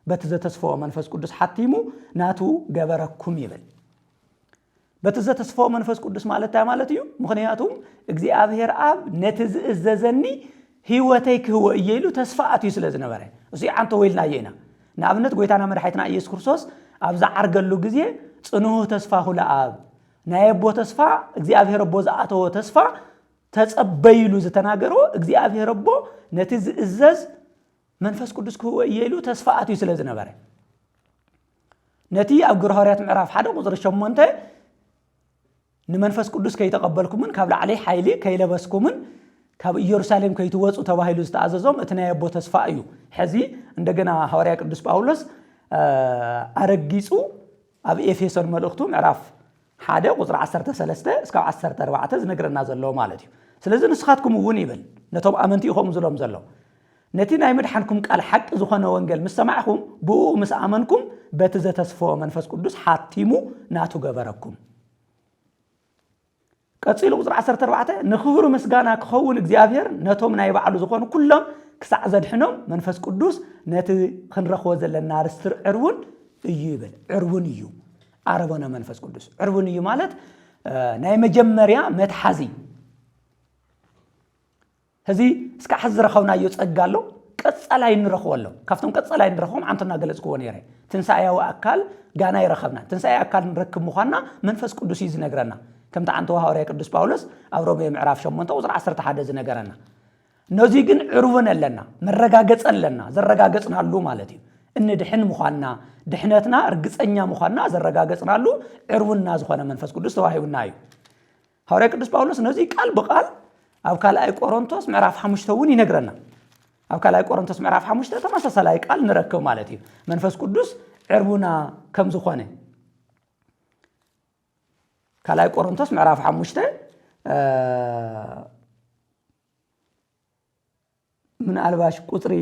በቲ ዘተስፈወ መንፈስ ቅዱስ ሓቲሙ ናቱ ገበረኩም ይብል በቲ ዘተስፈዎ መንፈስ ቅዱስ ማለት እንታይ ማለት እዩ? ምኽንያቱም እግዚኣብሔር ኣብ ነቲ ዝእዘዘኒ ህይወተይ ክህቦ እየ ኢሉ ተስፋ ኣትዩ ስለ ዝነበረ እሱ ዓንተ ወይልናዮ ኢና ንኣብነት ጎይታና መድሓይትና ኢየሱስ ክርስቶስ ኣብ ዝዓርገሉ ግዜ ጽንሁ ተስፋ ሁለ ኣብ ናይ ኣቦ ተስፋ እግዚኣብሔር ኣቦ ዝኣተዎ ተስፋ ተጸበይሉ ዝተናገርዎ እግዚኣብሔር ኣቦ ነቲ ዝእዘዝ መንፈስ ቅዱስ ክህቦ እየ ኢሉ ተስፋ ኣትዩ ስለ ዝነበረ ነቲ ኣብ ግብረ ሃዋርያት ምዕራፍ ሓደ ቁፅሪ ሸሞንተ ንመንፈስ ቅዱስ ከይተቐበልኩምን ካብ ላዕሊ ሓይሊ ከይለበስኩምን ካብ ኢየሩሳሌም ከይትወፁ ተባሂሉ ዝተኣዘዞም እቲ ናይ ኣቦ ተስፋ እዩ። ሕዚ እንደገና ሃዋርያ ቅዱስ ጳውሎስ ኣረጊጹ ኣብ ኤፌሶን መልእኽቱ ምዕራፍ ሓደ ቁጽሪ ዓሰርተ ሰለስተ እስካብ ዓሰርተ ኣርባዕተ ዝነግረና ዘሎ ማለት እዩ። ስለዚ ንስኻትኩም እውን ይብል ነቶም ኣመንቲ ኢኹም ዝሎም ዘሎ ነቲ ናይ ምድሓንኩም ቃል ሓቂ ዝኾነ ወንገል ምስ ሰማዕኹም ብእኡ ምስ ኣመንኩም በቲ ዘተስፈወ መንፈስ ቅዱስ ሓቲሙ ናቱ ገበረኩም። ቀጺሉ ቁጽሪ ዓሰርተ ኣርባዕተ ንክብሩ ምስጋና ክኸውን እግዚኣብሔር ነቶም ናይ ባዕሉ ዝኾኑ ኩሎም ክሳዕ ዘድሕኖም መንፈስ ቅዱስ ነቲ ክንረኽቦ ዘለና ርስቲ ዕርውን እዩ ይብል ዕርውን እዩ ኣረጎነ መንፈስ ቅዱስ ዕርቡን እዩ ማለት ናይ መጀመርያ መትሓዚ እዚ እስካ ሕዚ ዝረኸብናዮ ጸጋ ኣሎ ቀጻላይ ንረኽቦ ኣሎ ካብቶም ቀጻላይ ንረኽቦም ዓንቶ እናገለጽክዎ ነይረ ትንሳኤያዊ ኣካል ጋና ይረኸብና ትንሳኤ ኣካል ንረክብ ምዃንና መንፈስ ቅዱስ እዩ ዝነግረና ከምቲ ዓንቶ ሃዋርያ ቅዱስ ጳውሎስ ኣብ ሮሜ ምዕራፍ 8 ቁፅሪ 11 ዝነገረና ነዙይ ግን ዕርቡን ኣለና፣ መረጋገፂ ኣለና፣ ዘረጋገፅናሉ ማለት እዩ። እንድሕን ምዃንና፣ ድሕነትና እርግፀኛ ምዃንና ዘረጋገፅናሉ ዕርቡንና ዝኾነ መንፈስ ቅዱስ ተዋሂቡና እዩ። ሃዋርያ ቅዱስ ጳውሎስ ነዙይ ቃል ብቃል ኣብ ካልኣይ ቆሮንቶስ ምዕራፍ ሓሙሽተ እውን ይነግረና። ኣብ ካልኣይ ቆሮንቶስ ምዕራፍ ሓሙሽተ ተመሳሳላይ ቃል ንረክብ ማለት እዩ። መንፈስ ቅዱስ ዕርቡና ከም ዝኾነ ካልኣይ ቆሮንቶስ ምዕራፍ ሓሙሽተ ምናልባሽ ቁፅሪ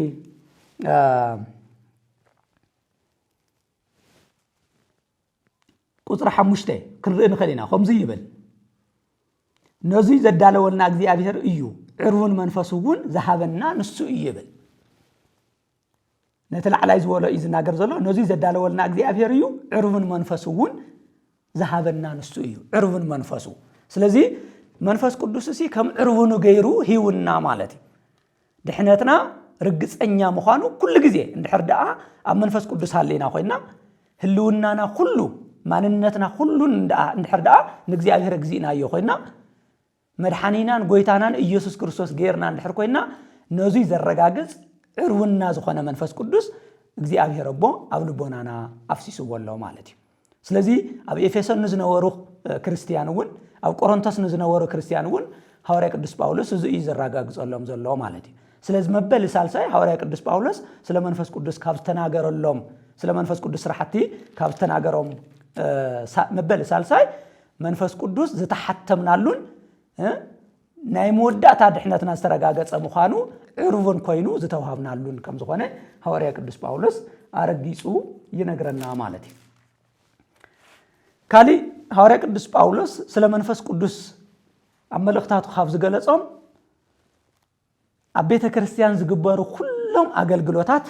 ቁፅሪ ሓሙሽተ ክንርኢ ንኽእል ኢና ከምዚ ይብል ነዙይ ዘዳለወልና እግዚኣብሔር እዩ ዕርውን መንፈሱ እውን ዝሃበና ንሱ እዩ ይብል ነቲ ላዕላይ ዝበሎ እዩ ዝናገር ዘሎ ነዙይ ዘዳለወልና እግዚኣብሄር እዩ ዕሩብን መንፈሱ እውን ዝሃበና ንሱ እዩ ዕሩብን መንፈሱ ስለዚ መንፈስ ቅዱስ እሲ ከም ዕርብኑ ገይሩ ሂውና ማለት እዩ ድሕነትና ርግፀኛ ምዃኑ ኩሉ ግዜ እንድሕር ደኣ ኣብ መንፈስ ቅዱስ ሃለና ኮይና ህልውናና ኩሉ ማንነትና ኩሉን እንድሕር ደኣ ንእግዚኣብሔር እግዚእናዮ ኮይና መድሓኒናን ጎይታናን ኢየሱስ ክርስቶስ ገይርና እንድሕር ኮይና ነዙይ ዘረጋግፅ ዕርውና ዝኾነ መንፈስ ቅዱስ እግዚኣብሔር ኣቦ ኣብ ልቦናና ኣፍሲስዎ ኣሎ ማለት እዩ። ስለዚ ኣብ ኤፌሶን ንዝነበሩ ክርስትያን እውን ኣብ ቆሮንቶስ ንዝነበሩ ክርስትያን እውን ሃዋርያ ቅዱስ ጳውሎስ እዚ እዩ ዘረጋግጸሎም ዘሎ ማለት እዩ። ስለዚ መበሊ ሳልሳይ ሃዋርያ ቅዱስ ጳውሎስ ስለ መንፈስ ቅዱስ ካብ ዝተናገረሎም ስለ መንፈስ ቅዱስ ስራሕቲ ካብ ዝተናገሮም መበሊ ሳልሳይ መንፈስ ቅዱስ ዝተሓተምናሉን ናይ መወዳእታ ድሕነትና ዝተረጋገጸ ምዃኑ ዕሩብን ኮይኑ ዝተዋሃብናሉን ከም ዝኾነ ሃዋርያ ቅዱስ ጳውሎስ ኣረጊጹ ይነግረና ማለት እዩ። ካሊእ ሃዋርያ ቅዱስ ጳውሎስ ስለ መንፈስ ቅዱስ ኣብ መልእኽታቱ ካብ ዝገለጾም ኣብ ቤተ ክርስቲያን ዝግበሩ ኩሎም ኣገልግሎታት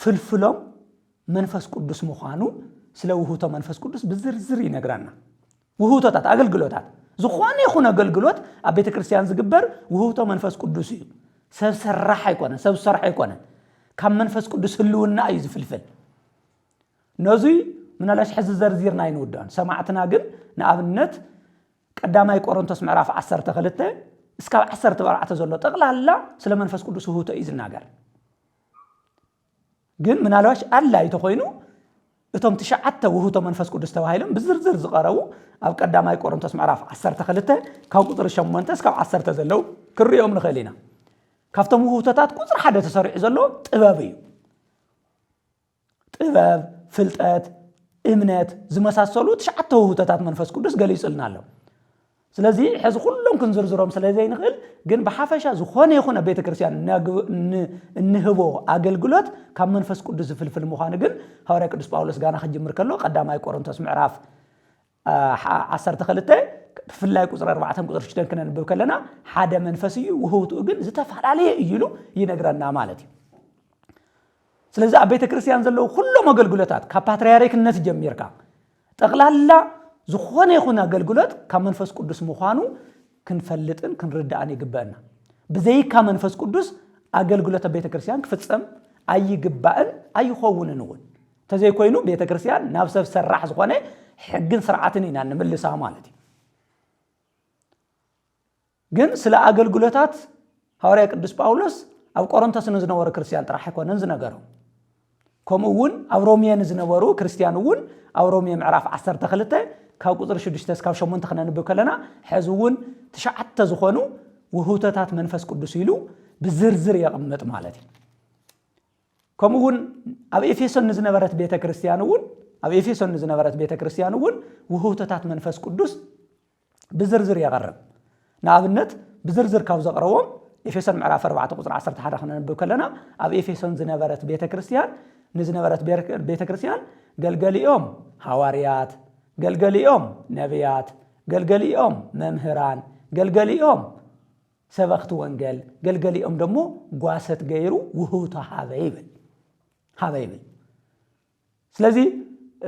ፍልፍሎም መንፈስ ቅዱስ ምዃኑ ስለ ውህቶ መንፈስ ቅዱስ ብዝርዝር ይነግራና። ውህቶታት ኣገልግሎታት ዝኾነ ይኹን ኣገልግሎት ኣብ ቤተ ክርስቲያን ዝግበር ውህብቶ መንፈስ ቅዱስ እዩ ሰብ ሰራሕ ኣይኮነን ሰብ ዝሰርሖ ኣይኮነን ካብ መንፈስ ቅዱስ ህልውና እዩ ዝፍልፍል ነዙይ ምናልባሽ ሕዚ ዘርዚርና ኣይንውዳን ሰማዕትና ግን ንኣብነት ቀዳማይ ቆሮንቶስ ምዕራፍ ዓሰርተ ክልተ እስካብ ዓሰርተ ኣርባዕተ ዘሎ ጠቕላላ ስለ መንፈስ ቅዱስ ውህብቶ እዩ ዝናገር ግን ምናልባሽ ኣላ ይተኮይኑ እቶም ትሽዓተ ውህብቶ መንፈስ ቅዱስ ተባሂሎም ብዝርዝር ዝቐረቡ ኣብ ቀዳማይ ቆሮንቶስ ምዕራፍ 12 ካብ ቁፅሪ 8 እስካብ 10 ዘለው ክንሪኦም ንኽእል ኢና ካብቶም ውህብቶታት ቁፅሪ ሓደ ተሰሪዑ ዘሎ ጥበብ እዩ ጥበብ፣ ፍልጠት፣ እምነት ዝመሳሰሉ ትሽዓተ ውህብቶታት መንፈስ ቅዱስ ገሊጹልና ኣሎ። ስለዚ ሕዚ ኩሎም ክንዝርዝሮም ስለ ዘይንኽእል ግን ብሓፈሻ ዝኾነ ይኹን ኣብ ቤተ ክርስቲያን እንህቦ ኣገልግሎት ካብ መንፈስ ቅዱስ ዝፍልፍል ምዃኑ ግን ሃዋርያ ቅዱስ ጳውሎስ ጋና ክጅምር ከሎ ቀዳማይ ቆሮንቶስ ምዕራፍ ዓሰርተ ክልተ ብፍላይ ቁፅሪ ኣርባዕተን ቁፅሪ ሽደን ክነንብብ ከለና ሓደ መንፈስ እዩ ውህውትኡ ግን ዝተፈላለየ እዩ ኢሉ ይነግረና ማለት እዩ ስለዚ ኣብ ቤተ ክርስቲያን ዘለዉ ኩሎም ኣገልግሎታት ካብ ፓትርያርክነት ጀሚርካ ጠቕላላ ዝኾነ ይኹን ኣገልግሎት ካብ መንፈስ ቅዱስ ምዃኑ ክንፈልጥን ክንርዳእን ይግበአና ብዘይካ መንፈስ ቅዱስ ኣገልግሎት ኣብ ቤተ ክርስቲያን ክፍፀም ኣይግባእን ኣይኸውንን እውን ተዘይኮይኑ ቤተክርስቲያን ናብ ሰብ ሰራሕ ዝኾነ ሕግን ስርዓትን ኢና ንምልሳ ማለት እዩ። ግን ስለ ኣገልግሎታት ሃዋርያ ቅዱስ ጳውሎስ ኣብ ቆሮንቶስ ንዝነበሩ ክርስትያን ጥራሕ ኣይኮነን ዝነገሮ ከምኡ እውን ኣብ ሮሜ ንዝነበሩ ክርስትያን እውን ኣብ ሮሜ ምዕራፍ 12 ካብ ቁፅሪ 6 ስካብ 8 ክነንብብ ከለና ሕዚ እውን ትሽዓተ ዝኾኑ ውህውተታት መንፈስ ቅዱስ ኢሉ ብዝርዝር የቕምጥ ማለት እዩ ከምኡ እውን ኣብ ኤፌሶን ንዝነበረት ቤተ ክርስቲያን እውን ኣብ ኤፌሶን ንዝነበረት ቤተ ክርስቲያን እውን ውህብቶታት መንፈስ ቅዱስ ብዝርዝር የቐርብ ንኣብነት ብዝርዝር ካብ ዘቕረቦም ኤፌሶን ምዕራፍ 4 ቁፅሪ 11 ክነንብብ ከለና ኣብ ኤፌሶን ዝነበረት ቤተ ክርስቲያን ንዝነበረት ቤተ ክርስቲያን ገልገሊኦም ሃዋርያት ገልገሊኦም ነቢያት ገልገሊኦም መምህራን ገልገሊኦም ሰበኽቲ ወንገል ገልገሊኦም ደሞ ጓሰት ገይሩ ውህውቶ ሃበ ይብል ሃበ ይብል ስለዚ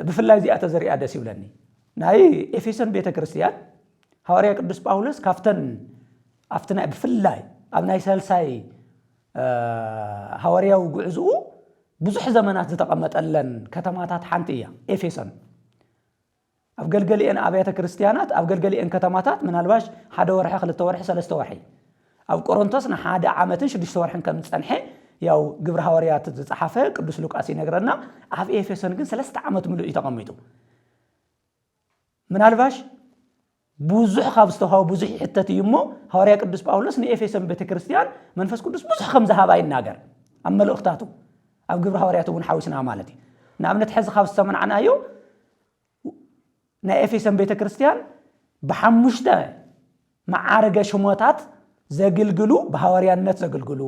ብፍላይ እዚኣ ተዘሪኣ ደስ ይብለኒ ናይ ኤፌሶን ቤተ ክርስቲያን ሃዋርያ ቅዱስ ጳውሎስ ካብተን ኣብቲ ናይ ብፍላይ ኣብ ናይ ሰልሳይ ሃዋርያዊ ጉዕዝኡ ብዙሕ ዘመናት ዝተቐመጠለን ከተማታት ሓንቲ እያ ኤፌሶን ኣብ ገልገሊኤን ኣብያተ ክርስትያናት፣ ኣብ ገልገሊኤን ከተማታት ምናልባሽ ሓደ ወርሒ፣ ክልተ ወርሒ፣ ሰለስተ ወርሒ፣ ኣብ ቆሮንቶስ ንሓደ ዓመትን ሽዱሽተ ወርሕን ከም ዝጸንሐ ያው ግብሪ ሃዋርያት ዝጸሓፈ ቅዱስ ሉቃስ ይነግረና። ኣብ ኤፌሶን ግን ሰለስተ ዓመት ምሉእ እዩ ተቐሚጡ። ምናልባሽ ብዙሕ ካብ ዝተዋህቦ ብዙሕ ይሕተት እዩ እሞ ሃዋርያ ቅዱስ ጳውሎስ ንኤፌሶን ቤተ ክርስቲያን መንፈስ ቅዱስ ብዙሕ ከም ዝሃባ ይናገር ኣብ መልእኽታቱ ኣብ ግብሪ ሃዋርያት እውን ሓዊስና ማለት እዩ ንኣብነት ሕዚ ካብ ዝተመናዕናዮ ናይ ኤፌሶን ቤተ ክርስቲያን ብሓሙሽተ መዓርገ ሽሞታት ዘግልግሉ ብሃዋርያነት ዘግልግሉ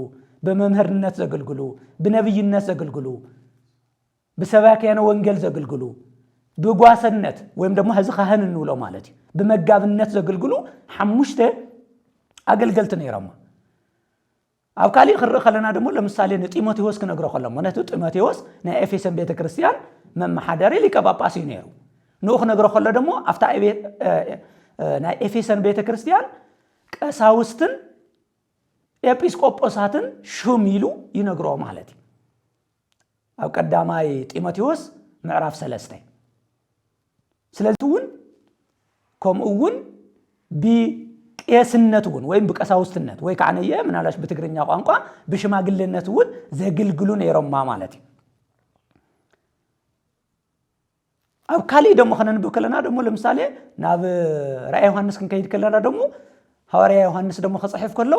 ብመምህርነት ዘግልግሉ ብነብይነት ዘግልግሉ ብሰባክያነ ወንጌል ዘግልግሉ፣ ብጓሰነት ወይም ደሞ ሕዚ ካህን እንብሎ ማለት እዩ፣ ብመጋብነት ዘግልግሉ ሓሙሽተ ኣገልገልቲ ነይሮማ። ኣብ ካሊእ ክንርኢ ከለና ደሞ ለምሳሌ ንጢሞቴዎስ ክነግሮ ከሎ ምክንያቱ ጢሞቴዎስ ናይ ኤፌሶን ቤተ ክርስቲያን መመሓደሪ ሊቀ ጳጳስ እዩ ነይሩ። ንኡ ክነግሮ ከሎ ደሞ ኣብታ ናይ ኤፌሶን ቤተ ክርስቲያን ቀሳውስትን ኤጲስቆጶሳትን ሹም ኢሉ ይነግሮ ማለት እዩ። ኣብ ቀዳማይ ጢሞቴዎስ ምዕራፍ ሰለስተ እዩ ስለዚ እውን ከምኡ እውን ብቄስነት እውን ወይም ብቀሳውስትነት ወይ ከዓ ነየ ምናልባሽ ብትግርኛ ቋንቋ ብሽማግሌነት እውን ዘግልግሉ ነይሮማ ማለት እዩ ኣብ ካልእ ደሞ ከነንብብ ከለና ደሞ ለምሳሌ ናብ ራእይ ዮሃንስ ክንከይድ ከለና ደሞ ሃዋርያ ዮሃንስ ደሞ ክጽሕፍ ከሎ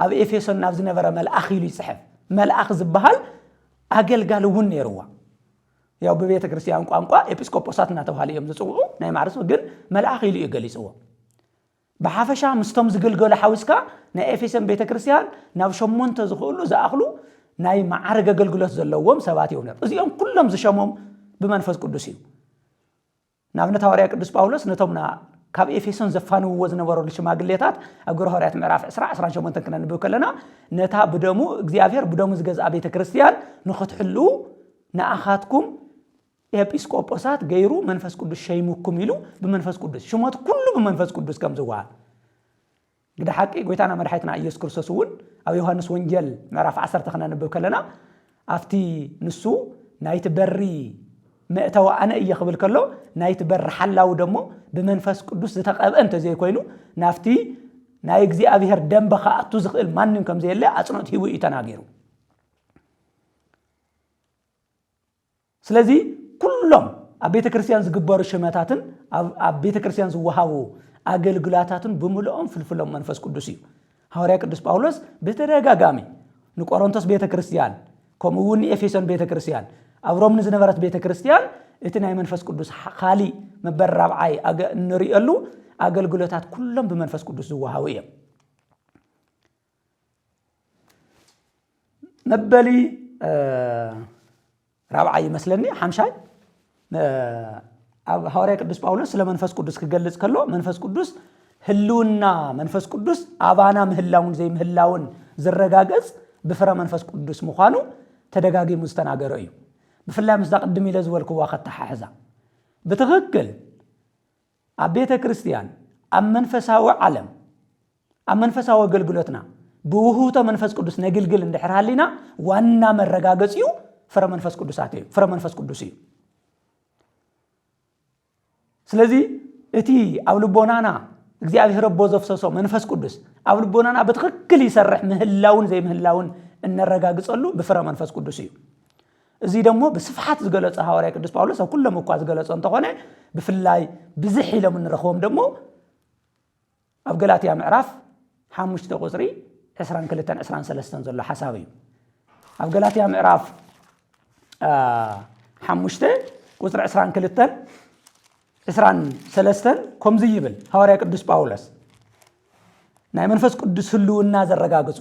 ኣብ ኤፌሶን ናብ ዝነበረ መልኣኽ ኢሉ ይጽሕፍ መልኣኽ ዝበሃል ኣገልጋሊ እውን ነይርዋ ያው ብቤተ ክርስቲያን ቋንቋ ኤጲስቆጶሳት እናተባሃለ እዮም ዝፅውዑ ናይ ማዕርሱ ግን መልኣኽ ኢሉ እዩ ገሊፅዎ ብሓፈሻ ምስቶም ዝግልገሉ ሓዊስካ ናይ ኤፌሶን ቤተ ክርስቲያን ናብ ሸሞንተ ዝኽእሉ ዝኣኽሉ ናይ መዓርግ ኣገልግሎት ዘለዎም ሰባት እዮም ነይሩ። እዚኦም ኩሎም ዝሸሞም ብመንፈስ ቅዱስ እዩ። ንኣብነት ሃዋርያ ቅዱስ ጳውሎስ ነቶም ና ካብ ኤፌሶን ዘፋንውዎ ዝነበረሉ ሽማግሌታት ኣብ ግብረ ሃዋርያት ምዕራፍ 20 28 ክነንብብ ከለና ነታ ብደሙ እግዚኣብሔር ብደሙ ዝገዝኣ ቤተ ክርስቲያን ንኽትሕልው ንኣኻትኩም ኤጲስቆጶሳት ገይሩ መንፈስ ቅዱስ ሸይሙኩም ኢሉ ብመንፈስ ቅዱስ ሽሞት ኩሉ ብመንፈስ ቅዱስ ከም ዝወሃብ ግደ ሓቂ ጎይታና መድሓይትና ኢየሱስ ክርስቶስ እውን ኣብ ዮሐንስ ወንጌል ምዕራፍ ዓሰርተ ክነንብብ ከለና ኣብቲ ንሱ ናይቲ በሪ መእተዊ ኣነ እየ ክብል ከሎ ናይቲ በሪ ሓላዊ ደሞ ብመንፈስ ቅዱስ ዝተቐብአ እንተዘይኮይኑ ናብቲ ናይ እግዚኣብሄር ደንበ ክኣቱ ዝኽእል ማንም ከም ዘየለ ኣፅኖት ሂቡ እዩ ተናጊሩ ስለዚ ኩሎም ኣብ ቤተ ክርስቲያን ዝግበሩ ሽመታትን ኣብ ቤተ ክርስቲያን ዝወሃቡ ኣገልግላታትን ብምልኦም ፍልፍሎም መንፈስ ቅዱስ እዩ ሃዋርያ ቅዱስ ጳውሎስ ብተደጋጋሚ ንቆሮንቶስ ቤተ ክርስቲያን ከምኡ እውን ንኤፌሶን ቤተ ክርስቲያን ኣብ ሮም ንዝነበረት ቤተ ክርስቲያን እቲ ናይ መንፈስ ቅዱስ ካሊእ መበል ራብዓይ እንሪእሉ ኣገልግሎታት ኩሎም ብመንፈስ ቅዱስ ዝወሃቡ እዮም መበሊ ራብዓይ ይመስለኒ ሓምሻይ ኣብ ሃዋርያ ቅዱስ ጳውሎስ ስለ መንፈስ ቅዱስ ክገልጽ ከሎ መንፈስ ቅዱስ ህልውና መንፈስ ቅዱስ ኣባና ምህላውን ዘይምህላውን ዝረጋገጽ ብፍረ መንፈስ ቅዱስ ምዃኑ ተደጋጊሙ ዝተናገረ እዩ ብፍላይ ምስዛ ቅድም ኢለ ዝበልክዋ ከተሓሕዛ ብትኽክል ኣብ ቤተ ክርስቲያን፣ ኣብ መንፈሳዊ ዓለም፣ ኣብ መንፈሳዊ ኣገልግሎትና ብውህብቶ መንፈስ ቅዱስ ነግልግል እንድሕር ሃሊና ዋና መረጋገጺኡ ፍረ መንፈስ ቅዱሳት እዩ ፍረ መንፈስ ቅዱስ እዩ ስለዚ እቲ ኣብ ልቦናና እግዚኣብሔር ኣቦ ዘፍሰሶ መንፈስ ቅዱስ ኣብ ልቦናና ብትክክል ይሰርሕ ምህላውን ዘይምህላውን እነረጋግፀሉ ብፍረ መንፈስ ቅዱስ እዩ እዙይ ደሞ ብስፍሓት ዝገለጾ ሃዋርያ ቅዱስ ጳውሎስ ኣብ ኩሎም እኳ ዝገለጾ እንተኾነ ብፍላይ ብዝሕ ኢሎም እንረኽቦም ደሞ ኣብ ገላትያ ምዕራፍ ሓሙሽተ ቁፅሪ ዕስራን ክልተን ዕስራን ሰለስተን ዘሎ ሓሳብ እዩ ኣብ ገላትያ ምዕራፍ ሓሙሽተ ቁፅሪ ዕስራን ክልተን ዕስራን ሰለስተን ከምዚ ይብል ሃዋርያ ቅዱስ ጳውሎስ ናይ መንፈስ ቅዱስ ህልውና ዘረጋግፁ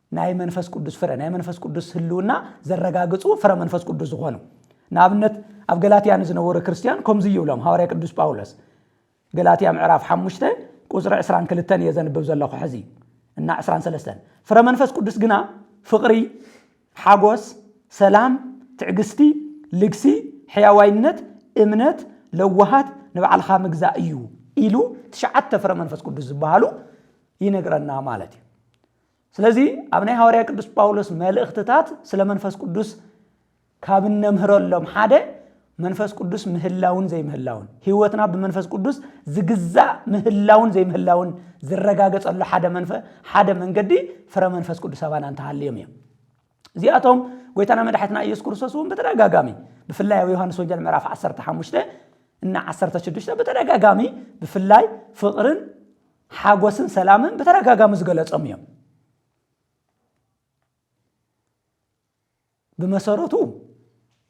ናይ መንፈስ ቅዱስ ፍረ ናይ መንፈስ ቅዱስ ህልውና ዘረጋግፁ ፍረ መንፈስ ቅዱስ ዝኾኑ ንኣብነት ኣብ ገላትያ ንዝነበሩ ክርስትያን ከምዚ ይብሎም ሃዋርያ ቅዱስ ጳውሎስ ገላትያ ምዕራፍ 5 ቁፅሪ 22 እየ ዘንብብ ዘለኹ ሕዚ እና 23 ፍረ መንፈስ ቅዱስ ግና ፍቕሪ ሓጎስ ሰላም ትዕግስቲ ልግሲ ሕያዋይነት እምነት ለዋሃት ንባዕልኻ ምግዛእ እዩ ኢሉ ትሽዓተ ፍረ መንፈስ ቅዱስ ዝበሃሉ ይነግረና ማለት እዩ ስለዚ ኣብ ናይ ሃዋርያ ቅዱስ ጳውሎስ መልእኽትታት ስለ መንፈስ ቅዱስ ካብ እነምህረሎም ሓደ መንፈስ ቅዱስ ምህላውን ዘይምህላውን ህይወትና ብመንፈስ ቅዱስ ዝግዛእ ምህላውን ዘይምህላውን ዝረጋገጸሉ ሓደ መንፈ ሓደ መንገዲ ፍረ መንፈስ ቅዱስ ኣባና እንተሃልዮም እዮም እዚኣቶም ጎይታና መድሓትና ኢየሱስ ክርስቶስ እውን ብተደጋጋሚ ብፍላይ ኣብ ዮሐንስ ወንጌል ምዕራፍ 15 እና 16 ብተደጋጋሚ ብፍላይ ፍቕርን ሓጎስን ሰላምን ብተደጋጋሚ ዝገለጾም እዮም ብመሰረቱ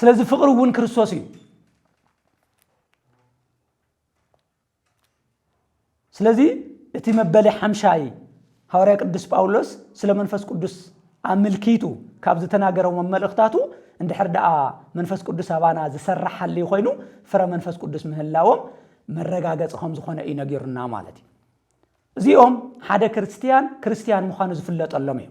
ስለዚ ፍቕሪ እውን ክርስቶስ እዩ ስለዚ እቲ መበሊ ሓምሻይ ሃዋርያ ቅዱስ ጳውሎስ ስለ መንፈስ ቅዱስ ኣምልኪቱ ካብ ዝተናገረው መመልእኽታቱ እንድሕር ደኣ መንፈስ ቅዱስ ኣባና ዝሰራሕ ሃልዩ ኮይኑ ፍረ መንፈስ ቅዱስ ምህላዎም መረጋገፂ ከም ዝኾነ እዩ ነጊሩና ማለት እዩ እዚኦም ሓደ ክርስትያን ክርስትያን ምዃኑ ዝፍለጠሎም እዩ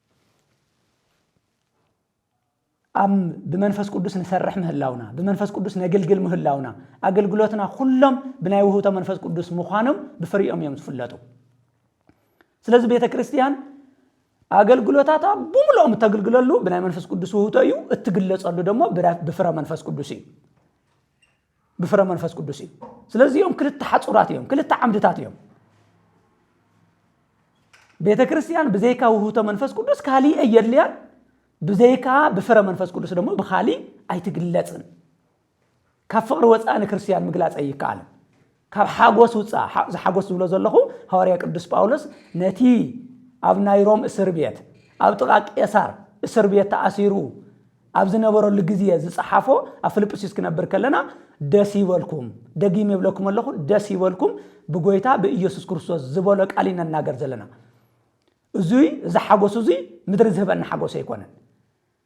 ኣብ ብመንፈስ ቅዱስ ንሰርሕ ምህላውና ብመንፈስ ቅዱስ ነግልግል ምህላውና ኣገልግሎትና ኩሎም ብናይ ውህብቶ መንፈስ ቅዱስ ምዃኖም ብፍሪኦም እዮም ዝፍለጡ ስለዚ ቤተ ክርስቲያን ኣገልግሎታታ ብምልኦም እተግልግለሉ ብናይ መንፈስ ቅዱስ ውህብቶ እዩ እትግለጸሉ ደሞ ብፍረ መንፈስ ቅዱስ እዩ ብፍረ መንፈስ ቅዱስ እዩ ስለዚ እዮም ክልተ ሓፁራት እዮም ክልተ ዓምድታት እዮም ቤተ ክርስቲያን ብዘይካ ውህብቶ መንፈስ ቅዱስ ካሊእ እየድልያን ብዘይካ ብፍረ መንፈስ ቅዱስ ደግሞ ብካሊእ ኣይትግለፅን ካብ ፍቅሪ ወፃኢ ንክርስትያን ምግላፅ ኣይከኣልን ካብ ሓጎስ ውጻእ፣ እዚ ሓጎስ ዝብሎ ዘለኹ ሃዋርያ ቅዱስ ጳውሎስ ነቲ ኣብ ናይ ሮም እስር ቤት ኣብ ጥቓ ቄሳር እስር ቤት ተኣሲሩ ኣብ ዝነበረሉ ግዜ ዝጸሓፎ ኣብ ፍልጵስዩስ ክነብር ከለና ደስ ይበልኩም ደጊም የብለኩም ኣለኹ ደስ ይበልኩም ብጎይታ ብኢየሱስ ክርስቶስ ዝበሎ ቃል ኢና እናገር ዘለና እዙይ እዚ ሓጎስ እዙይ ምድሪ ዝህበና ሓጎስ ኣይኮነን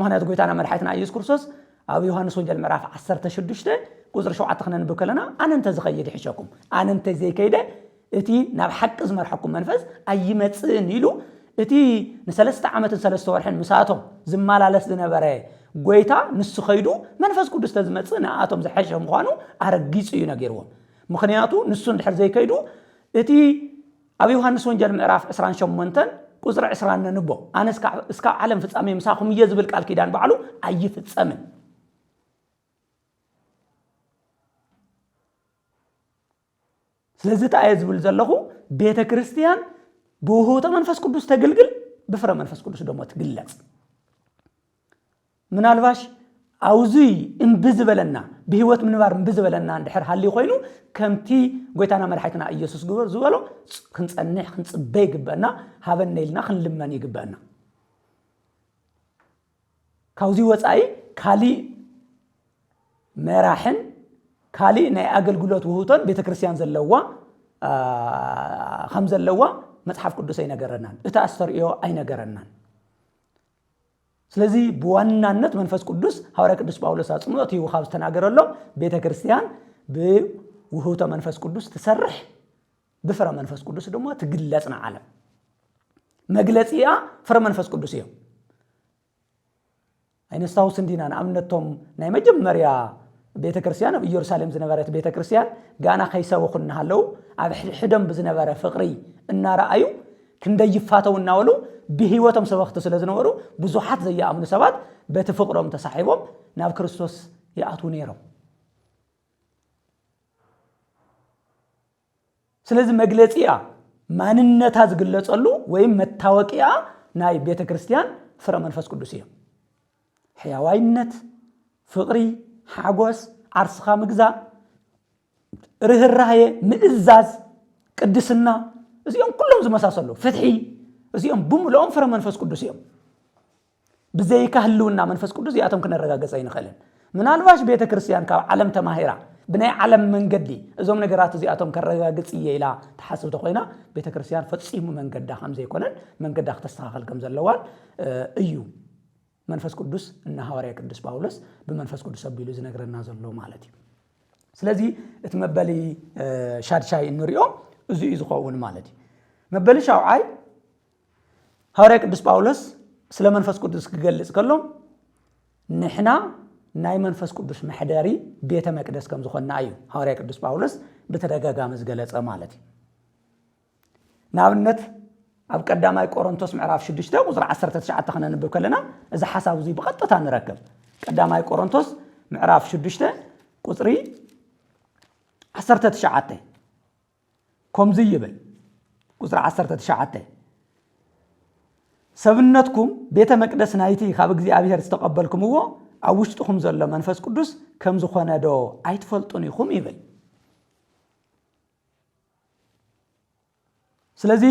ምክንያቱ ጎይታና መድሓይትና ኢየሱስ ክርስቶስ ኣብ ዮሃንስ ወንጀል ምዕራፍ ዓሰርተ ሽዱሽተ ቁፅሪ ሸውዓተ ክነንብብ ከለና ኣነ እንተዝኸይድ ይሕሸኩም ኣነ እንተዘይከይደ እቲ ናብ ሓቂ ዝመርሐኩም መንፈስ ኣይመፅእን ኢሉ እቲ ንሰለስተ ዓመትን ሰለስተ ወርሕን ምሳቶም ዝመላለስ ዝነበረ ጎይታ ንሱ ከይዱ መንፈስ ቅዱስ ተዝመፅእ ንኣቶም ዝሐሸ ምዃኑ ኣረጊፁ እዩ ነጊርዎም ምክንያቱ ንሱ እንድሕር ዘይከይዱ እቲ ኣብ ዮሃንስ ወንጀል ምዕራፍ ዕስራን ሸሞንተን ቁጽሪ ዕስራን ነንቦ ኣነ እስካብ ዓለም ፍጻሜ ምሳኹም እየ ዝብል ቃል ኪዳን ባዕሉ ኣይፍጸምን። ስለዚ እንታይ እየ ዝብል ዘለኹ ቤተ ክርስቲያን ብውህብቶ መንፈስ ቅዱስ ተግልግል ብፍረ መንፈስ ቅዱስ ደሞ ትግለጽ ምናልባሽ ኣውዙይ እምቢ ዝበለና ብህይወት ምንባር እምቢ ዝበለና እንድሕር ሃልዩ ኮይኑ ከምቲ ጎይታና መድሓይትና ኢየሱስ ግበር ዝበሎ ክንጸንሕ ክንጽበ ይግበአና ሃበነ ኢልና ክንልመን ይግበአና ካብዚ ወፃኢ ካሊእ መራሕን ካሊእ ናይ ኣገልግሎት ውህቶን ቤተ ክርስቲያን ዘለዋ ከም ዘለዋ መፅሓፍ ቅዱስ ኣይነገረናን እቲ ኣስተርእዮ ኣይነገረናን ስለዚ ብዋናነት መንፈስ ቅዱስ ሃዋርያ ቅዱስ ጳውሎስ ኣጽንኦት ሂቡ ካብ ዝተናገረሎም ቤተ ክርስቲያን ብውህብቶ መንፈስ ቅዱስ ትሰርሕ ብፍረ መንፈስ ቅዱስ ድማ ትግለጽ ንዓለም መግለጺኣ ፍረ መንፈስ ቅዱስ እዮም ኣይነስታውስ እንዲና ንኣብነቶም ናይ መጀመርያ ቤተ ክርስቲያን ኣብ ኢየሩሳሌም ዝነበረት ቤተ ክርስቲያን ጋና ከይሰበኹ እናሃለዉ ኣብ ሕድሕደም ብዝነበረ ፍቕሪ እናረኣዩ ክንደይ ይፋተው እናበሉ ብህይወቶም ሰበኽቲ ስለ ዝነበሩ ብዙሓት ዘይኣምኑ ሰባት በቲ ፍቕሮም ተሳሒቦም ናብ ክርስቶስ ይኣትዉ ነይሮም። ስለዚ መግለጺያ ማንነታ ዝግለጸሉ ወይም መታወቂያ ናይ ቤተ ክርስቲያን ፍረ መንፈስ ቅዱስ እዮም ሕያዋይነት ፍቕሪ ሓጎስ ዓርስኻ ምግዛእ ርህራሄ፣ ምእዛዝ፣ ቅድስና እዚኦም ኩሎም ዝመሳሰሉ ፍትሒ እዚኦም ብምልኦም ፍረ መንፈስ ቅዱስ እዮም። ብዘይካ ህልውና መንፈስ ቅዱስ እዚኣቶም ክነረጋገጸ ኣይንኽእልን። ምናልባሽ ቤተ ክርስቲያን ካብ ዓለም ተማሂራ ብናይ ዓለም መንገዲ እዞም ነገራት እዚኣቶም ከረጋግጽ እየ ኢላ ተሓስብ ተኮይና ቤተ ክርስቲያን ፈጺሙ መንገዳ ከም ዘይኮነን መንገዳ ክተስተኻኸል ከም ዘለዋን እዩ መንፈስ ቅዱስ እና ሃዋርያ ቅዱስ ጳውሎስ ብመንፈስ ቅዱስ ኣቢሉ ዝነግረና ዘሎ ማለት እዩ ስለዚ እቲ መበሊ ሻድሻይ እንሪኦ እዚ እዩ ዝኸውን ማለት እዩ መበሊ ሻውዓይ ሃዋርያ ቅዱስ ጳውሎስ ስለ መንፈስ ቅዱስ ክገልጽ ከሎ ንሕና ናይ መንፈስ ቅዱስ መሕደሪ ቤተ መቅደስ ከም ዝኾንና እዩ ሃዋርያ ቅዱስ ጳውሎስ ብተደጋጋሚ ዝገለጸ ማለት እዩ ንኣብነት ኣብ ቀዳማይ ቆሮንቶስ ምዕራፍ 6 ቁፅሪ 19 ክነንብብ ከለና እዚ ሓሳብ እዙይ ብቐጥታ ንረክብ ቀዳማይ ቆሮንቶስ ምዕራፍ 6 ቁፅሪ 19 ከምዚ ይብል ቁፅሪ 19 ሰብነትኩም ቤተ መቅደስ ናይቲ ካብ እግዚኣብሔር ዝተቐበልኩምዎ ኣብ ውሽጥኹም ዘሎ መንፈስ ቅዱስ ከም ዝኾነ ዶ ኣይትፈልጡን ኢኹም ይብል ስለዚ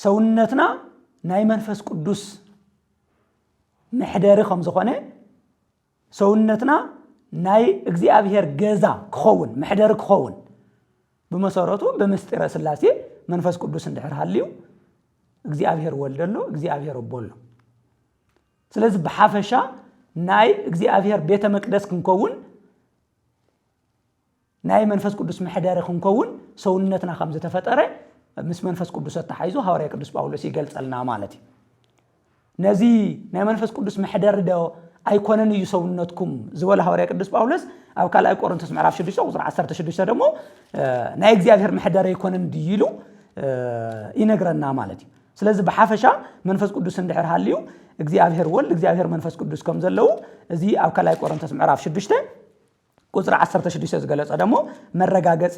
ሰውነትና ናይ መንፈስ ቅዱስ መሕደሪ ከም ዝኾነ ሰውነትና ናይ እግዚኣብሔር ገዛ ክኸውን መሕደሪ ክኸውን ብመሰረቱ ብምስጢረ ስላሴ መንፈስ ቅዱስ እንድሕር ሃልዩ እግዚኣብሔር ወልድ ኣሎ እግዚኣብሔር ኣቦ ኣሎ ስለዚ ብሓፈሻ ናይ እግዚኣብሔር ቤተ መቅደስ ክንከውን ናይ መንፈስ ቅዱስ መሕደሪ ክንከውን ሰውነትና ከም ዝተፈጠረ ምስ መንፈስ ቅዱስ ኣተሓይዞ ሃዋርያ ቅዱስ ጳውሎስ ይገልጸልና ማለት እዩ ነዚ ናይ መንፈስ ቅዱስ መሕደሪ ዶ ኣይኮነን እዩ ሰውነትኩም ዝበለ ሃዋርያ ቅዱስ ጳውሎስ ኣብ ካልኣይ ቆሮንቶስ ምዕራፍ 6 ቁፅሪ 16 ደሞ ናይ እግዚኣብሔር መሕደሪ ኣይኮነን ድዩ ኢሉ ይነግረና ማለት እዩ ስለዚ ብሓፈሻ መንፈስ ቅዱስ እንድሕር ሃልዩ እግዚኣብሔር ወልድ እግዚኣብሔር መንፈስ ቅዱስ ከም ዘለዉ እዚ ኣብ ካልኣይ ቆሮንቶስ ምዕራፍ 6 ቁጽሪ ዓሰርተ ሽዱሽተ ዝገለጾ ደሞ መረጋገጺ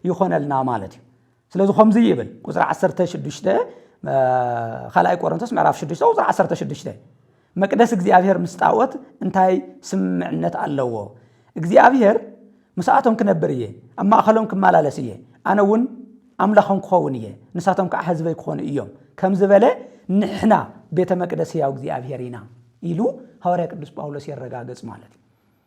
ይኾነልና ማለት እዩ። ስለዚ ከምዚ ይብል ቁፅሪ ዓሰርተ ሽዱሽተ ካልኣይ ቆሮንቶስ ምዕራፍ ሽዱሽተ ቁፅሪ ዓሰርተ ሽዱሽተ መቅደስ እግዚኣብሔር ምስ ጣዖት እንታይ ስምምዕነት ኣለዎ? እግዚኣብሔር ምስኣቶም ክነብር እየ፣ ኣብ ማእኸሎም ክመላለስ እየ፣ ኣነ እውን ኣምላኾም ክኸውን እየ፣ ንሳቶም ከዓ ህዝበይ ክኾኑ እዮም ከም ዝበለ ንሕና ቤተ መቅደስ ህያው እግዚኣብሔር ኢና ኢሉ ሃዋርያ ቅዱስ ጳውሎስ የረጋግጽ ማለት እዩ።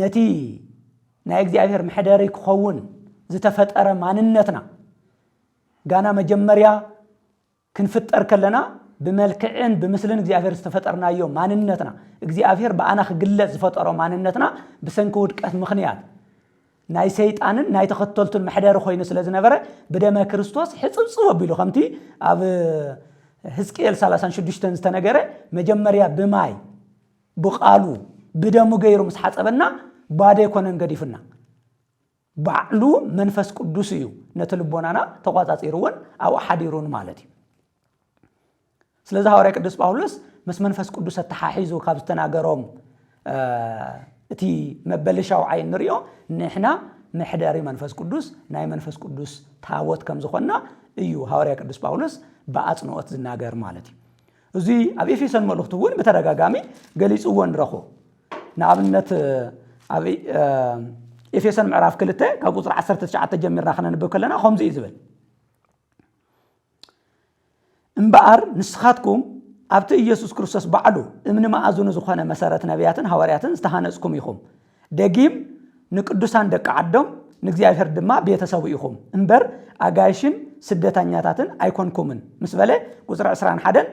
ነቲ ናይ እግዚኣብሔር መሕደሪ ክኸውን ዝተፈጠረ ማንነትና ጋና መጀመርያ ክንፍጠር ከለና ብመልክዕን ብምስልን እግዚኣብሔር ዝተፈጠርናዮ ማንነትና እግዚኣብሔር ብኣና ክግለጽ ዝፈጠሮ ማንነትና ብሰንኪ ውድቀት ምኽንያት ናይ ሰይጣንን ናይ ተኸተልቱን መሕደሪ ኮይኑ ስለ ዝነበረ ብደመ ክርስቶስ ሕፅብፅብ ኣቢሉ ከምቲ ኣብ ህዝቅኤል 36 ዝተነገረ መጀመርያ ብማይ ብቃሉ ብደሙ ገይሩ ምስ ሓጸበና ባዶ ኣይኮነን ገዲፉና ባዕሉ መንፈስ ቅዱስ እዩ ነቲ ልቦናና ተቋጻጺርዎን ኣብኡ ሓዲሩን ማለት እዩ ስለዚ ሃዋርያ ቅዱስ ጳውሎስ ምስ መንፈስ ቅዱስ ኣተሓሒዙ ካብ ዝተናገሮም እቲ መበሊ ሻውዓይ እንሪኦ ንሕና መሕደሪ መንፈስ ቅዱስ ናይ መንፈስ ቅዱስ ታቦት ከም ዝኾንና እዩ ሃዋርያ ቅዱስ ጳውሎስ ብኣጽንኦት ዝናገር ማለት እዩ እዚ ኣብ ኤፌሶን መልእኽቱ እውን ብተደጋጋሚ ገሊጽዎ ንረኽቦ ንኣብነት ኣብ ኤፌሶን ምዕራፍ ክልተ ካብ ቁፅሪ 19 ጀሚርና ክነንብብ ከለና ከምዚ እዩ ዝብል እምበኣር ንስኻትኩም ኣብቲ ኢየሱስ ክርስቶስ ባዕሉ እምኒ መኣዝኑ ዝኾነ መሰረት ነቢያትን ሃዋርያትን ዝተሃነጽኩም ኢኹም ደጊም ንቅዱሳን ደቂ ዓዶም ንእግዚኣብሔር ድማ ቤተ ሰቡ ኢኹም እምበር ኣጋይሽን ስደተኛታትን ኣይኮንኩምን ምስ በለ ቁፅሪ ዕስራን ሓደን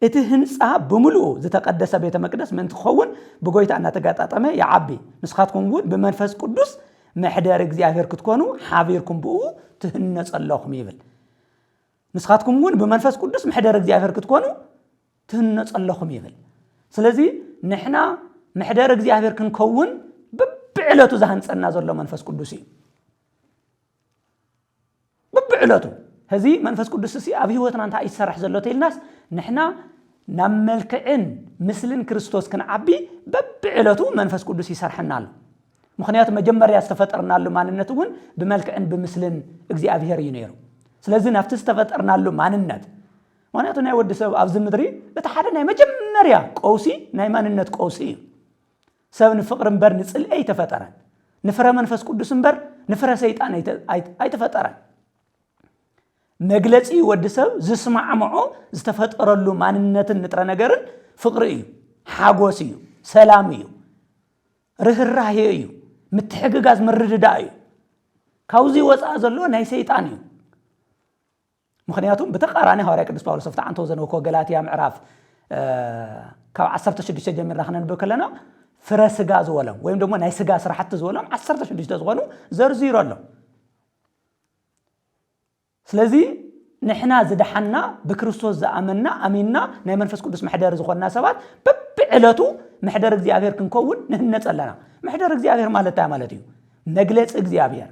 እቲ ህንፃ ብምልኡ ዝተቀደሰ ቤተ መቅደስ ምእንቲ ክኸውን ብጎይታ እናተጋጣጠመ ይዓቢ ንስኻትኩም እውን ብመንፈስ ቅዱስ መሕደሪ እግዚኣብሔር ክትኮኑ ሓቢርኩም ብኡ ትህነፁ ኣለኹም ይብል ንስኻትኩም እውን ብመንፈስ ቅዱስ ምሕደር እግዚኣብሔር ክትኮኑ ትህነፁ ኣለኹም ይብል ስለዚ ንሕና ምሕደር እግዚኣብሔር ክንከውን ብብዕለቱ ዝሃንፀና ዘሎ መንፈስ ቅዱስ እዩ ብብዕለቱ እዚ መንፈስ ቅዱስ እሲ ኣብ ህይወትና እንታይ እዩ ዝሰርሕ ዘሎ ተኢልናስ ንሕና ናብ መልክዕን ምስልን ክርስቶስ ክንዓቢ በብዕለቱ መንፈስ ቅዱስ ይሰርሐና ኣሎ ምኽንያቱ መጀመርያ ዝተፈጠርናሉ ማንነት እውን ብመልክዕን ብምስልን እግዚኣብሄር እዩ ነይሩ። ስለዚ ናብቲ ዝተፈጠርናሉ ማንነት ምኽንያቱ ናይ ወዲ ሰብ ኣብዚ ምድሪ እቲ ሓደ ናይ መጀመርያ ቀውሲ ናይ ማንነት ቀውሲ እዩ። ሰብ ንፍቕሪ እምበር ንጽልኢ ኣይተፈጠረን። ንፍረ መንፈስ ቅዱስ እምበር ንፍረ ሰይጣን ኣይተፈጠረን። መግለፂ ወዲ ሰብ ዝስማዕምዖ ዝተፈጠረሉ ማንነትን ንጥረ ነገርን ፍቕሪ እዩ፣ ሓጎስ እዩ፣ ሰላም እዩ። ርህራሄ እዩ ምትሕግጋዝ ምርድዳእ እዩ ካብዚ ወፃእ ዘሎ ናይ ሰይጣን እዩ ምክንያቱም ብተቃራኒ ሃዋርያ ቅዱስ ጳውሎስ ኣብቲ ዓንተው ዘንበኮ ገላትያ ምዕራፍ ካብ 16 ጀሚርና ክነንብብ ከለና ፍረ ስጋ ዝበሎም ወይም ደግሞ ናይ ስጋ ስራሕቲ ዝበሎም 16 ዝኾኑ ዘርዚሩ ኣሎ ስለዚ ንሕና ዝደሓንና ብክርስቶስ ዝኣመንና ኣሚንና ናይ መንፈስ ቅዱስ መሕደሪ ዝኾንና ሰባት በብዕለቱ መሕደሪ እግዚኣብሔር ክንከውን ንህነፅ ኣለና። መሕደሪ እግዚኣብሔር ማለት እንታይ ማለት እዩ? መግለፂ እግዚኣብሔር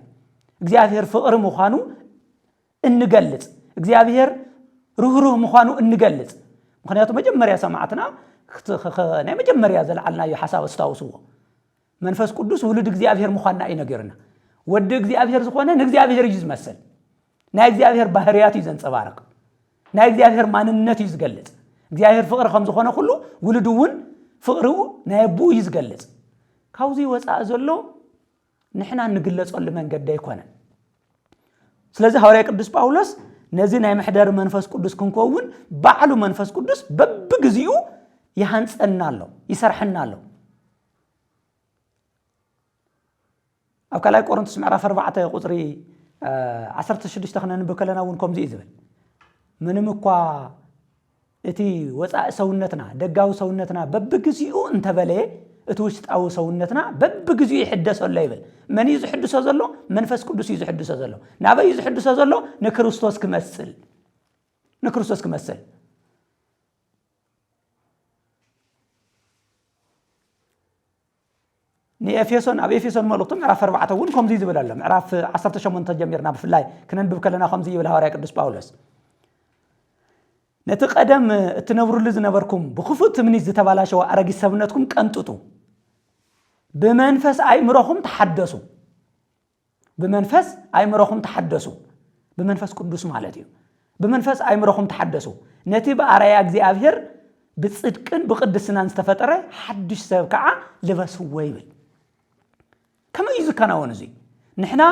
እግዚኣብሔር ፍቕሪ ምዃኑ እንገልፅ እግዚኣብሔር ርህሩህ ምዃኑ እንገልፅ ምክንያቱ መጀመርያ ሰማዕትና ናይ መጀመርያ ዘልዓልናዮ ሓሳብ ኣስታውስዎ መንፈስ ቅዱስ ውሉድ እግዚኣብሔር ምዃንና እዩ ነገርና። ወዲ እግዚኣብሔር ዝኾነ ንእግዚኣብሔር እዩ ዝመስል። ናይ እግዚኣብሔር ባህርያት እዩ ዘንፀባርቕ። ናይ እግዚኣብሔር ማንነት እዩ ዝገልፅ። እግዚኣብሔር ፍቕሪ ከም ዝኾነ ኩሉ ውሉድ እውን ፍቕሪኡ ናይ ኣቦኡ እዩ ዝገልፅ። ካብዚ ወፃኢ ዘሎ ንሕና እንግለፀሉ መንገዲ ኣይኮነን። ስለዚ ሃዋርያ ቅዱስ ጳውሎስ ነዚ ናይ መሕደሪ መንፈስ ቅዱስ ክንከውን ባዕሉ መንፈስ ቅዱስ በብግዚኡ ይሃንፀና ኣሎ፣ ይሰርሐና ኣሎ። ኣብ ካልኣይ ቆሮንቶስ ምዕራፍ ኣርባዕተ ቁፅሪ ዓሰርተ ሽዱሽተ ክነንብብ ከለና እውን ከምዚ እዩ ዝብል ምንም እኳ እቲ ወፃኢ ሰውነትና ደጋዊ ሰውነትና በብግዚኡ እንተበለየ እቲ ውሽጣዊ ሰውነትና በብግዚኡ ይሕደሶ ኣሎ ይብል መን እዩ ዝሕድሶ ዘሎ መንፈስ ቅዱስ እዩ ዝሕድሶ ዘሎ ናበይ እዩ ዝሕድሶ ዘሎ ንክርስቶስ ክመስል ንክርስቶስ ክመስል ንኤፌሶን ኣብ ኤፌሶን መልእኽቱ ምዕራፍ ኣርባዕተ እውን ከምዚ ዝብል ኣሎ ምዕራፍ ዓሰርተ ሸሞንተ ጀሚርና ብፍላይ ክነንብብ ከለና ከምዚ ይብል ሃዋርያ ቅዱስ ጳውሎስ ነቲ ቀደም እትነብሩሉ ዝነበርኩም ብክፉእ ትምኒት ዝተባላሸወ ኣረጊት ሰብነትኩም ቀንጥጡ ብመንፈስ ኣይምሮኹም ተሓደሱ ብመንፈስ ኣእምሮኹም ተሓደሱ፣ ብመንፈስ ቅዱስ ማለት እዩ። ብመንፈስ ኣእምሮኹም ተሓደሱ፣ ነቲ ብኣርኣያ እግዚኣብሄር ብጽድቅን ብቕድስናን ዝተፈጠረ ሓድሽ ሰብ ከኣ ልበስዎ ይብል። ከመይ እዩ ዝከናወን እዙይ? ንሕና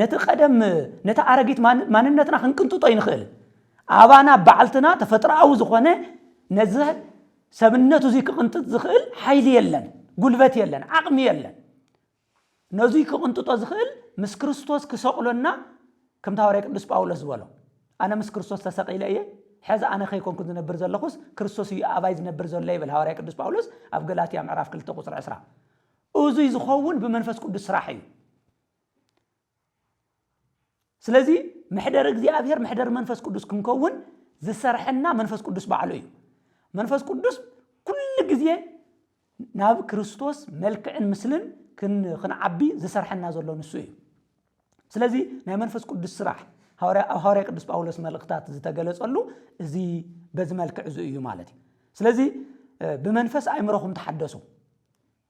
ነቲ ቀደም ነቲ ኣረጊት ማንነትና ክንቅንጥጦ ይንኽእል። ኣባና ባዕልትና ተፈጥሮኣዊ ዝኾነ ነዚ ሰብነቱ እዙይ ክቕንጥጥ ዝኽእል ሓይሊ የለን፣ ጉልበት የለን፣ ዓቕሚ የለን። ነዙይ ክቕንጥጦ ዝኽእል ምስ ክርስቶስ ክሰቕሎና ከምቲ ሃዋርያ ቅዱስ ጳውሎስ ዝበሎ ኣነ ምስ ክርስቶስ ተሰቒለ እየ ሕዚ ኣነ ከይኮንኩን ዝነብር ዘለኹስ ክርስቶስ እዩ ኣባይ ዝነብር ዘሎ ይብል ሃዋርያ ቅዱስ ጳውሎስ ኣብ ገላትያ ምዕራፍ 2 ቁፅሪ 20 እዙይ ዝኸውን ብመንፈስ ቅዱስ ስራሕ እዩ ስለዚ መሕደር እግዚኣብሔር መሕደር መንፈስ ቅዱስ ክንከውን ዝሰርሐና መንፈስ ቅዱስ ባዕሉ እዩ መንፈስ ቅዱስ ኩሉ ግዜ ናብ ክርስቶስ መልክዕን ምስልን ክንዓቢ ዝሰርሐና ዘሎ ንሱ እዩ ስለዚ ናይ መንፈስ ቅዱስ ስራሕ ኣብ ሃዋርያ ቅዱስ ጳውሎስ መልእኽታት ዝተገለጸሉ እዚ በዚ መልክዕ እዚ እዩ ማለት እዩ ስለዚ ብመንፈስ ኣእምሮኹም ተሓደሱ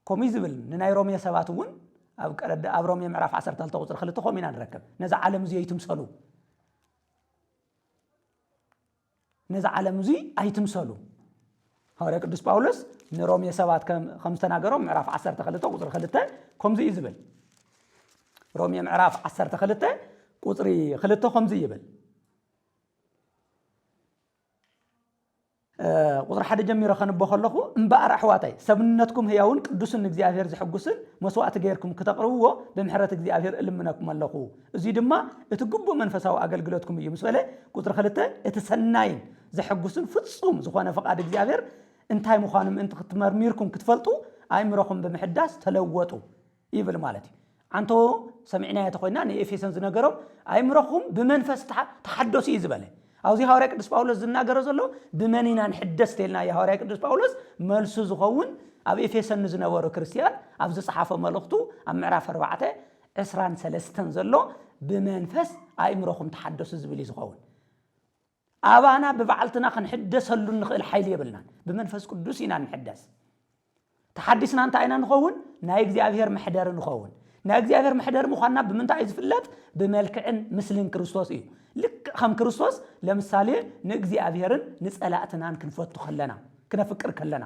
ከምኡ እዩ ዝብል ንናይ ሮሜ ሰባት እውን ኣብ ቀደደ ኣብ ሮሜ ምዕራፍ ዓሰርተ ክልተ ቁፅሪ ክልተ ከምኡ ኢና ንረክብ ነዚ ዓለም እዚ ኣይትምሰሉ ነዚ ዓለም እዚ ኣይትምሰሉ ሃዋርያ ቅዱስ ጳውሎስ ንሮሜ ሰባት ከም ከም ዝተናገሮም ምዕራፍ ዓሰርተ ክልተ ቁፅሪ ክልተ ከምዚ እዩ ዝብል ሮሜ ምዕራፍ ዓሰርተ ክልተ ቁፅሪ ክልተ ከምዚ ይብል ቁጽሪ ሓደ ጀሚረ ከንቦ ከለኹ እምበኣር ኣሕዋታይ ሰብነትኩም ህያውን ቅዱስን ንእግዚኣብሔር ዘሕጉስን መስዋእቲ ገይርኩም ክተቕርብዎ ብምሕረት እግዚኣብሔር እልምነኩም ኣለኹ እዙይ ድማ እቲ ግቡእ መንፈሳዊ ኣገልግሎትኩም እዩ ምስ በለ ቁጽሪ ክልተ እቲ ሰናይን ዘሕጉስን ፍጹም ዝኾነ ፍቓድ እግዚኣብሔር እንታይ ምዃኑ ምእንቲ ክትመርሚርኩም ክትፈልጡ ኣእምሮኹም ብምሕዳስ ተለወጡ ይብል ማለት እዩ። ዓንቶ ሰሚዕናዮ ተኾይና ንኤፌሶን ዝነገሮም ኣይምሮኹም ብመንፈስ ተሓደሱ እዩ ዝበለ። ኣብዚ ሃዋርያ ቅዱስ ጳውሎስ ዝናገሮ ዘሎ ብመን ኢና ንሕደስ ተልና እዩ ሃዋርያ ቅዱስ ጳውሎስ መልሱ ዝኸውን ኣብ ኤፌሶን ንዝነበሩ ክርስትያን ኣብ ዝጸሓፎ መልእኽቱ ኣብ ምዕራፍ ኣርባዕተ ዕስራን ሰለስተን ዘሎ ብመንፈስ ኣእምሮኹም ተሓደሱ ዝብል እዩ ዝኸውን። ኣባና ብባዕልትና ክንሕደሰሉ እንኽእል ሓይሊ የብልናን። ብመንፈስ ቅዱስ ኢና እንሕደስ። ተሓዲስና እንታይ ኢና ንኸውን? ናይ እግዚኣብሔር መሕደሪ ንኸውን። ናይ እግዚኣብሔር መሕደሪ ምዃንና ብምንታይ እዩ ዝፍለጥ? ብመልክዕን ምስልን ክርስቶስ እዩ። ልክዕ ከም ክርስቶስ ለምሳሌ ንእግዚኣብሔርን ንጸላእትናን ክንፈቱ ከለና፣ ክነፍቅር ከለና።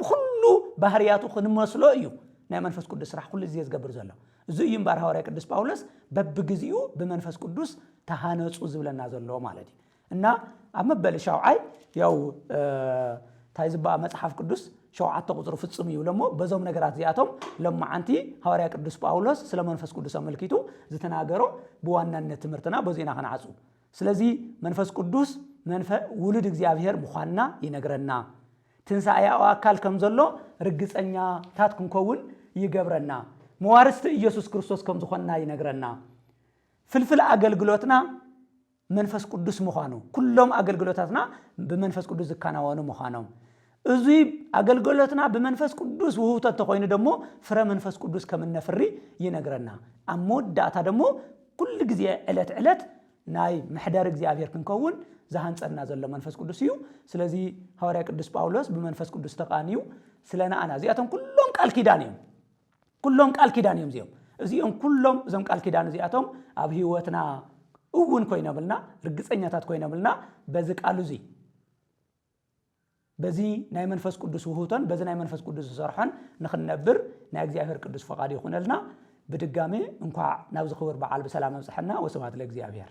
ብኹሉ ባህርያቱ ክንመስሎ እዩ ናይ መንፈስ ቅዱስ ስራሕ ኩሉ ግዜ ዝገብር ዘሎ። እዚ እዩ እምበኣር ሃዋርያ ቅዱስ ጳውሎስ በብግዚኡ ብመንፈስ ቅዱስ ተሃነጹ ዝብለና ዘሎ ማለት እዩ እና ኣብ መበሊ ሻውዓይ ያው እንታይ ዝበኣ መጽሓፍ ቅዱስ ሸውዓተ ቁፅሪ ፍጹም ይብሎ እሞ በዞም ነገራት እዚኣቶም ሎማዓንቲ ሃዋርያ ቅዱስ ጳውሎስ ስለ መንፈስ ቅዱስ ኣመልኪቱ ዝተናገሮ ብዋናነት ትምህርትና በዚ ኢና ክንዓፁ ስለዚ መንፈስ ቅዱስ ውሉድ እግዚኣብሄር ምዃንና ይነግረና ትንሳኤኣኦ ኣካል ከም ዘሎ ርግጸኛታት ክንከውን ይገብረና። መዋርስቲ እየሱስ ክርስቶስ ከም ዝኾንና ይነግረና። ፍልፍል ኣገልግሎትና መንፈስ ቅዱስ ምዃኑ፣ ኩሎም ኣገልግሎታትና ብመንፈስ ቅዱስ ዝከናወኑ ምዃኖም፣ እዙይ ኣገልግሎትና ብመንፈስ ቅዱስ ውህብቶ እንተኾይኑ ደሞ ፍረ መንፈስ ቅዱስ ከም እነፍሪ ይነግረና። ኣብ መወዳእታ ደሞ ኩሉ ግዜ ዕለት ዕለት ናይ መሕደሪ እግዚኣብሔር ክንከውን ዝሃንጸና ዘሎ መንፈስ ቅዱስ እዩ። ስለዚ ሃዋርያ ቅዱስ ጳውሎስ ብመንፈስ ቅዱስ ተቃንዩ ስለ ንኣና እዚኣቶም ኩሎም ቃል ኪዳን እዮም። ኩሎም ቃል ኪዳን እዮም እዚኦም እዚኦም ኩሎም እዞም ቃል ኪዳን እዚኣቶም ኣብ ህይወትና እውን ኮይኖምልና ርግጸኛታት ኮይኖምልና በዚ ቃሉ እዙይ በዚ ናይ መንፈስ ቅዱስ ውህብቶን በዚ ናይ መንፈስ ቅዱስ ዝሰርሖን ንኽንነብር ናይ እግዚኣብሔር ቅዱስ ፈቓዱ ይኹነልና። ብድጋሜ እንኳዕ ናብዚ ክብር በዓል ብሰላም ኣብፀሐና ወስብሐት ለእግዚኣብሔር።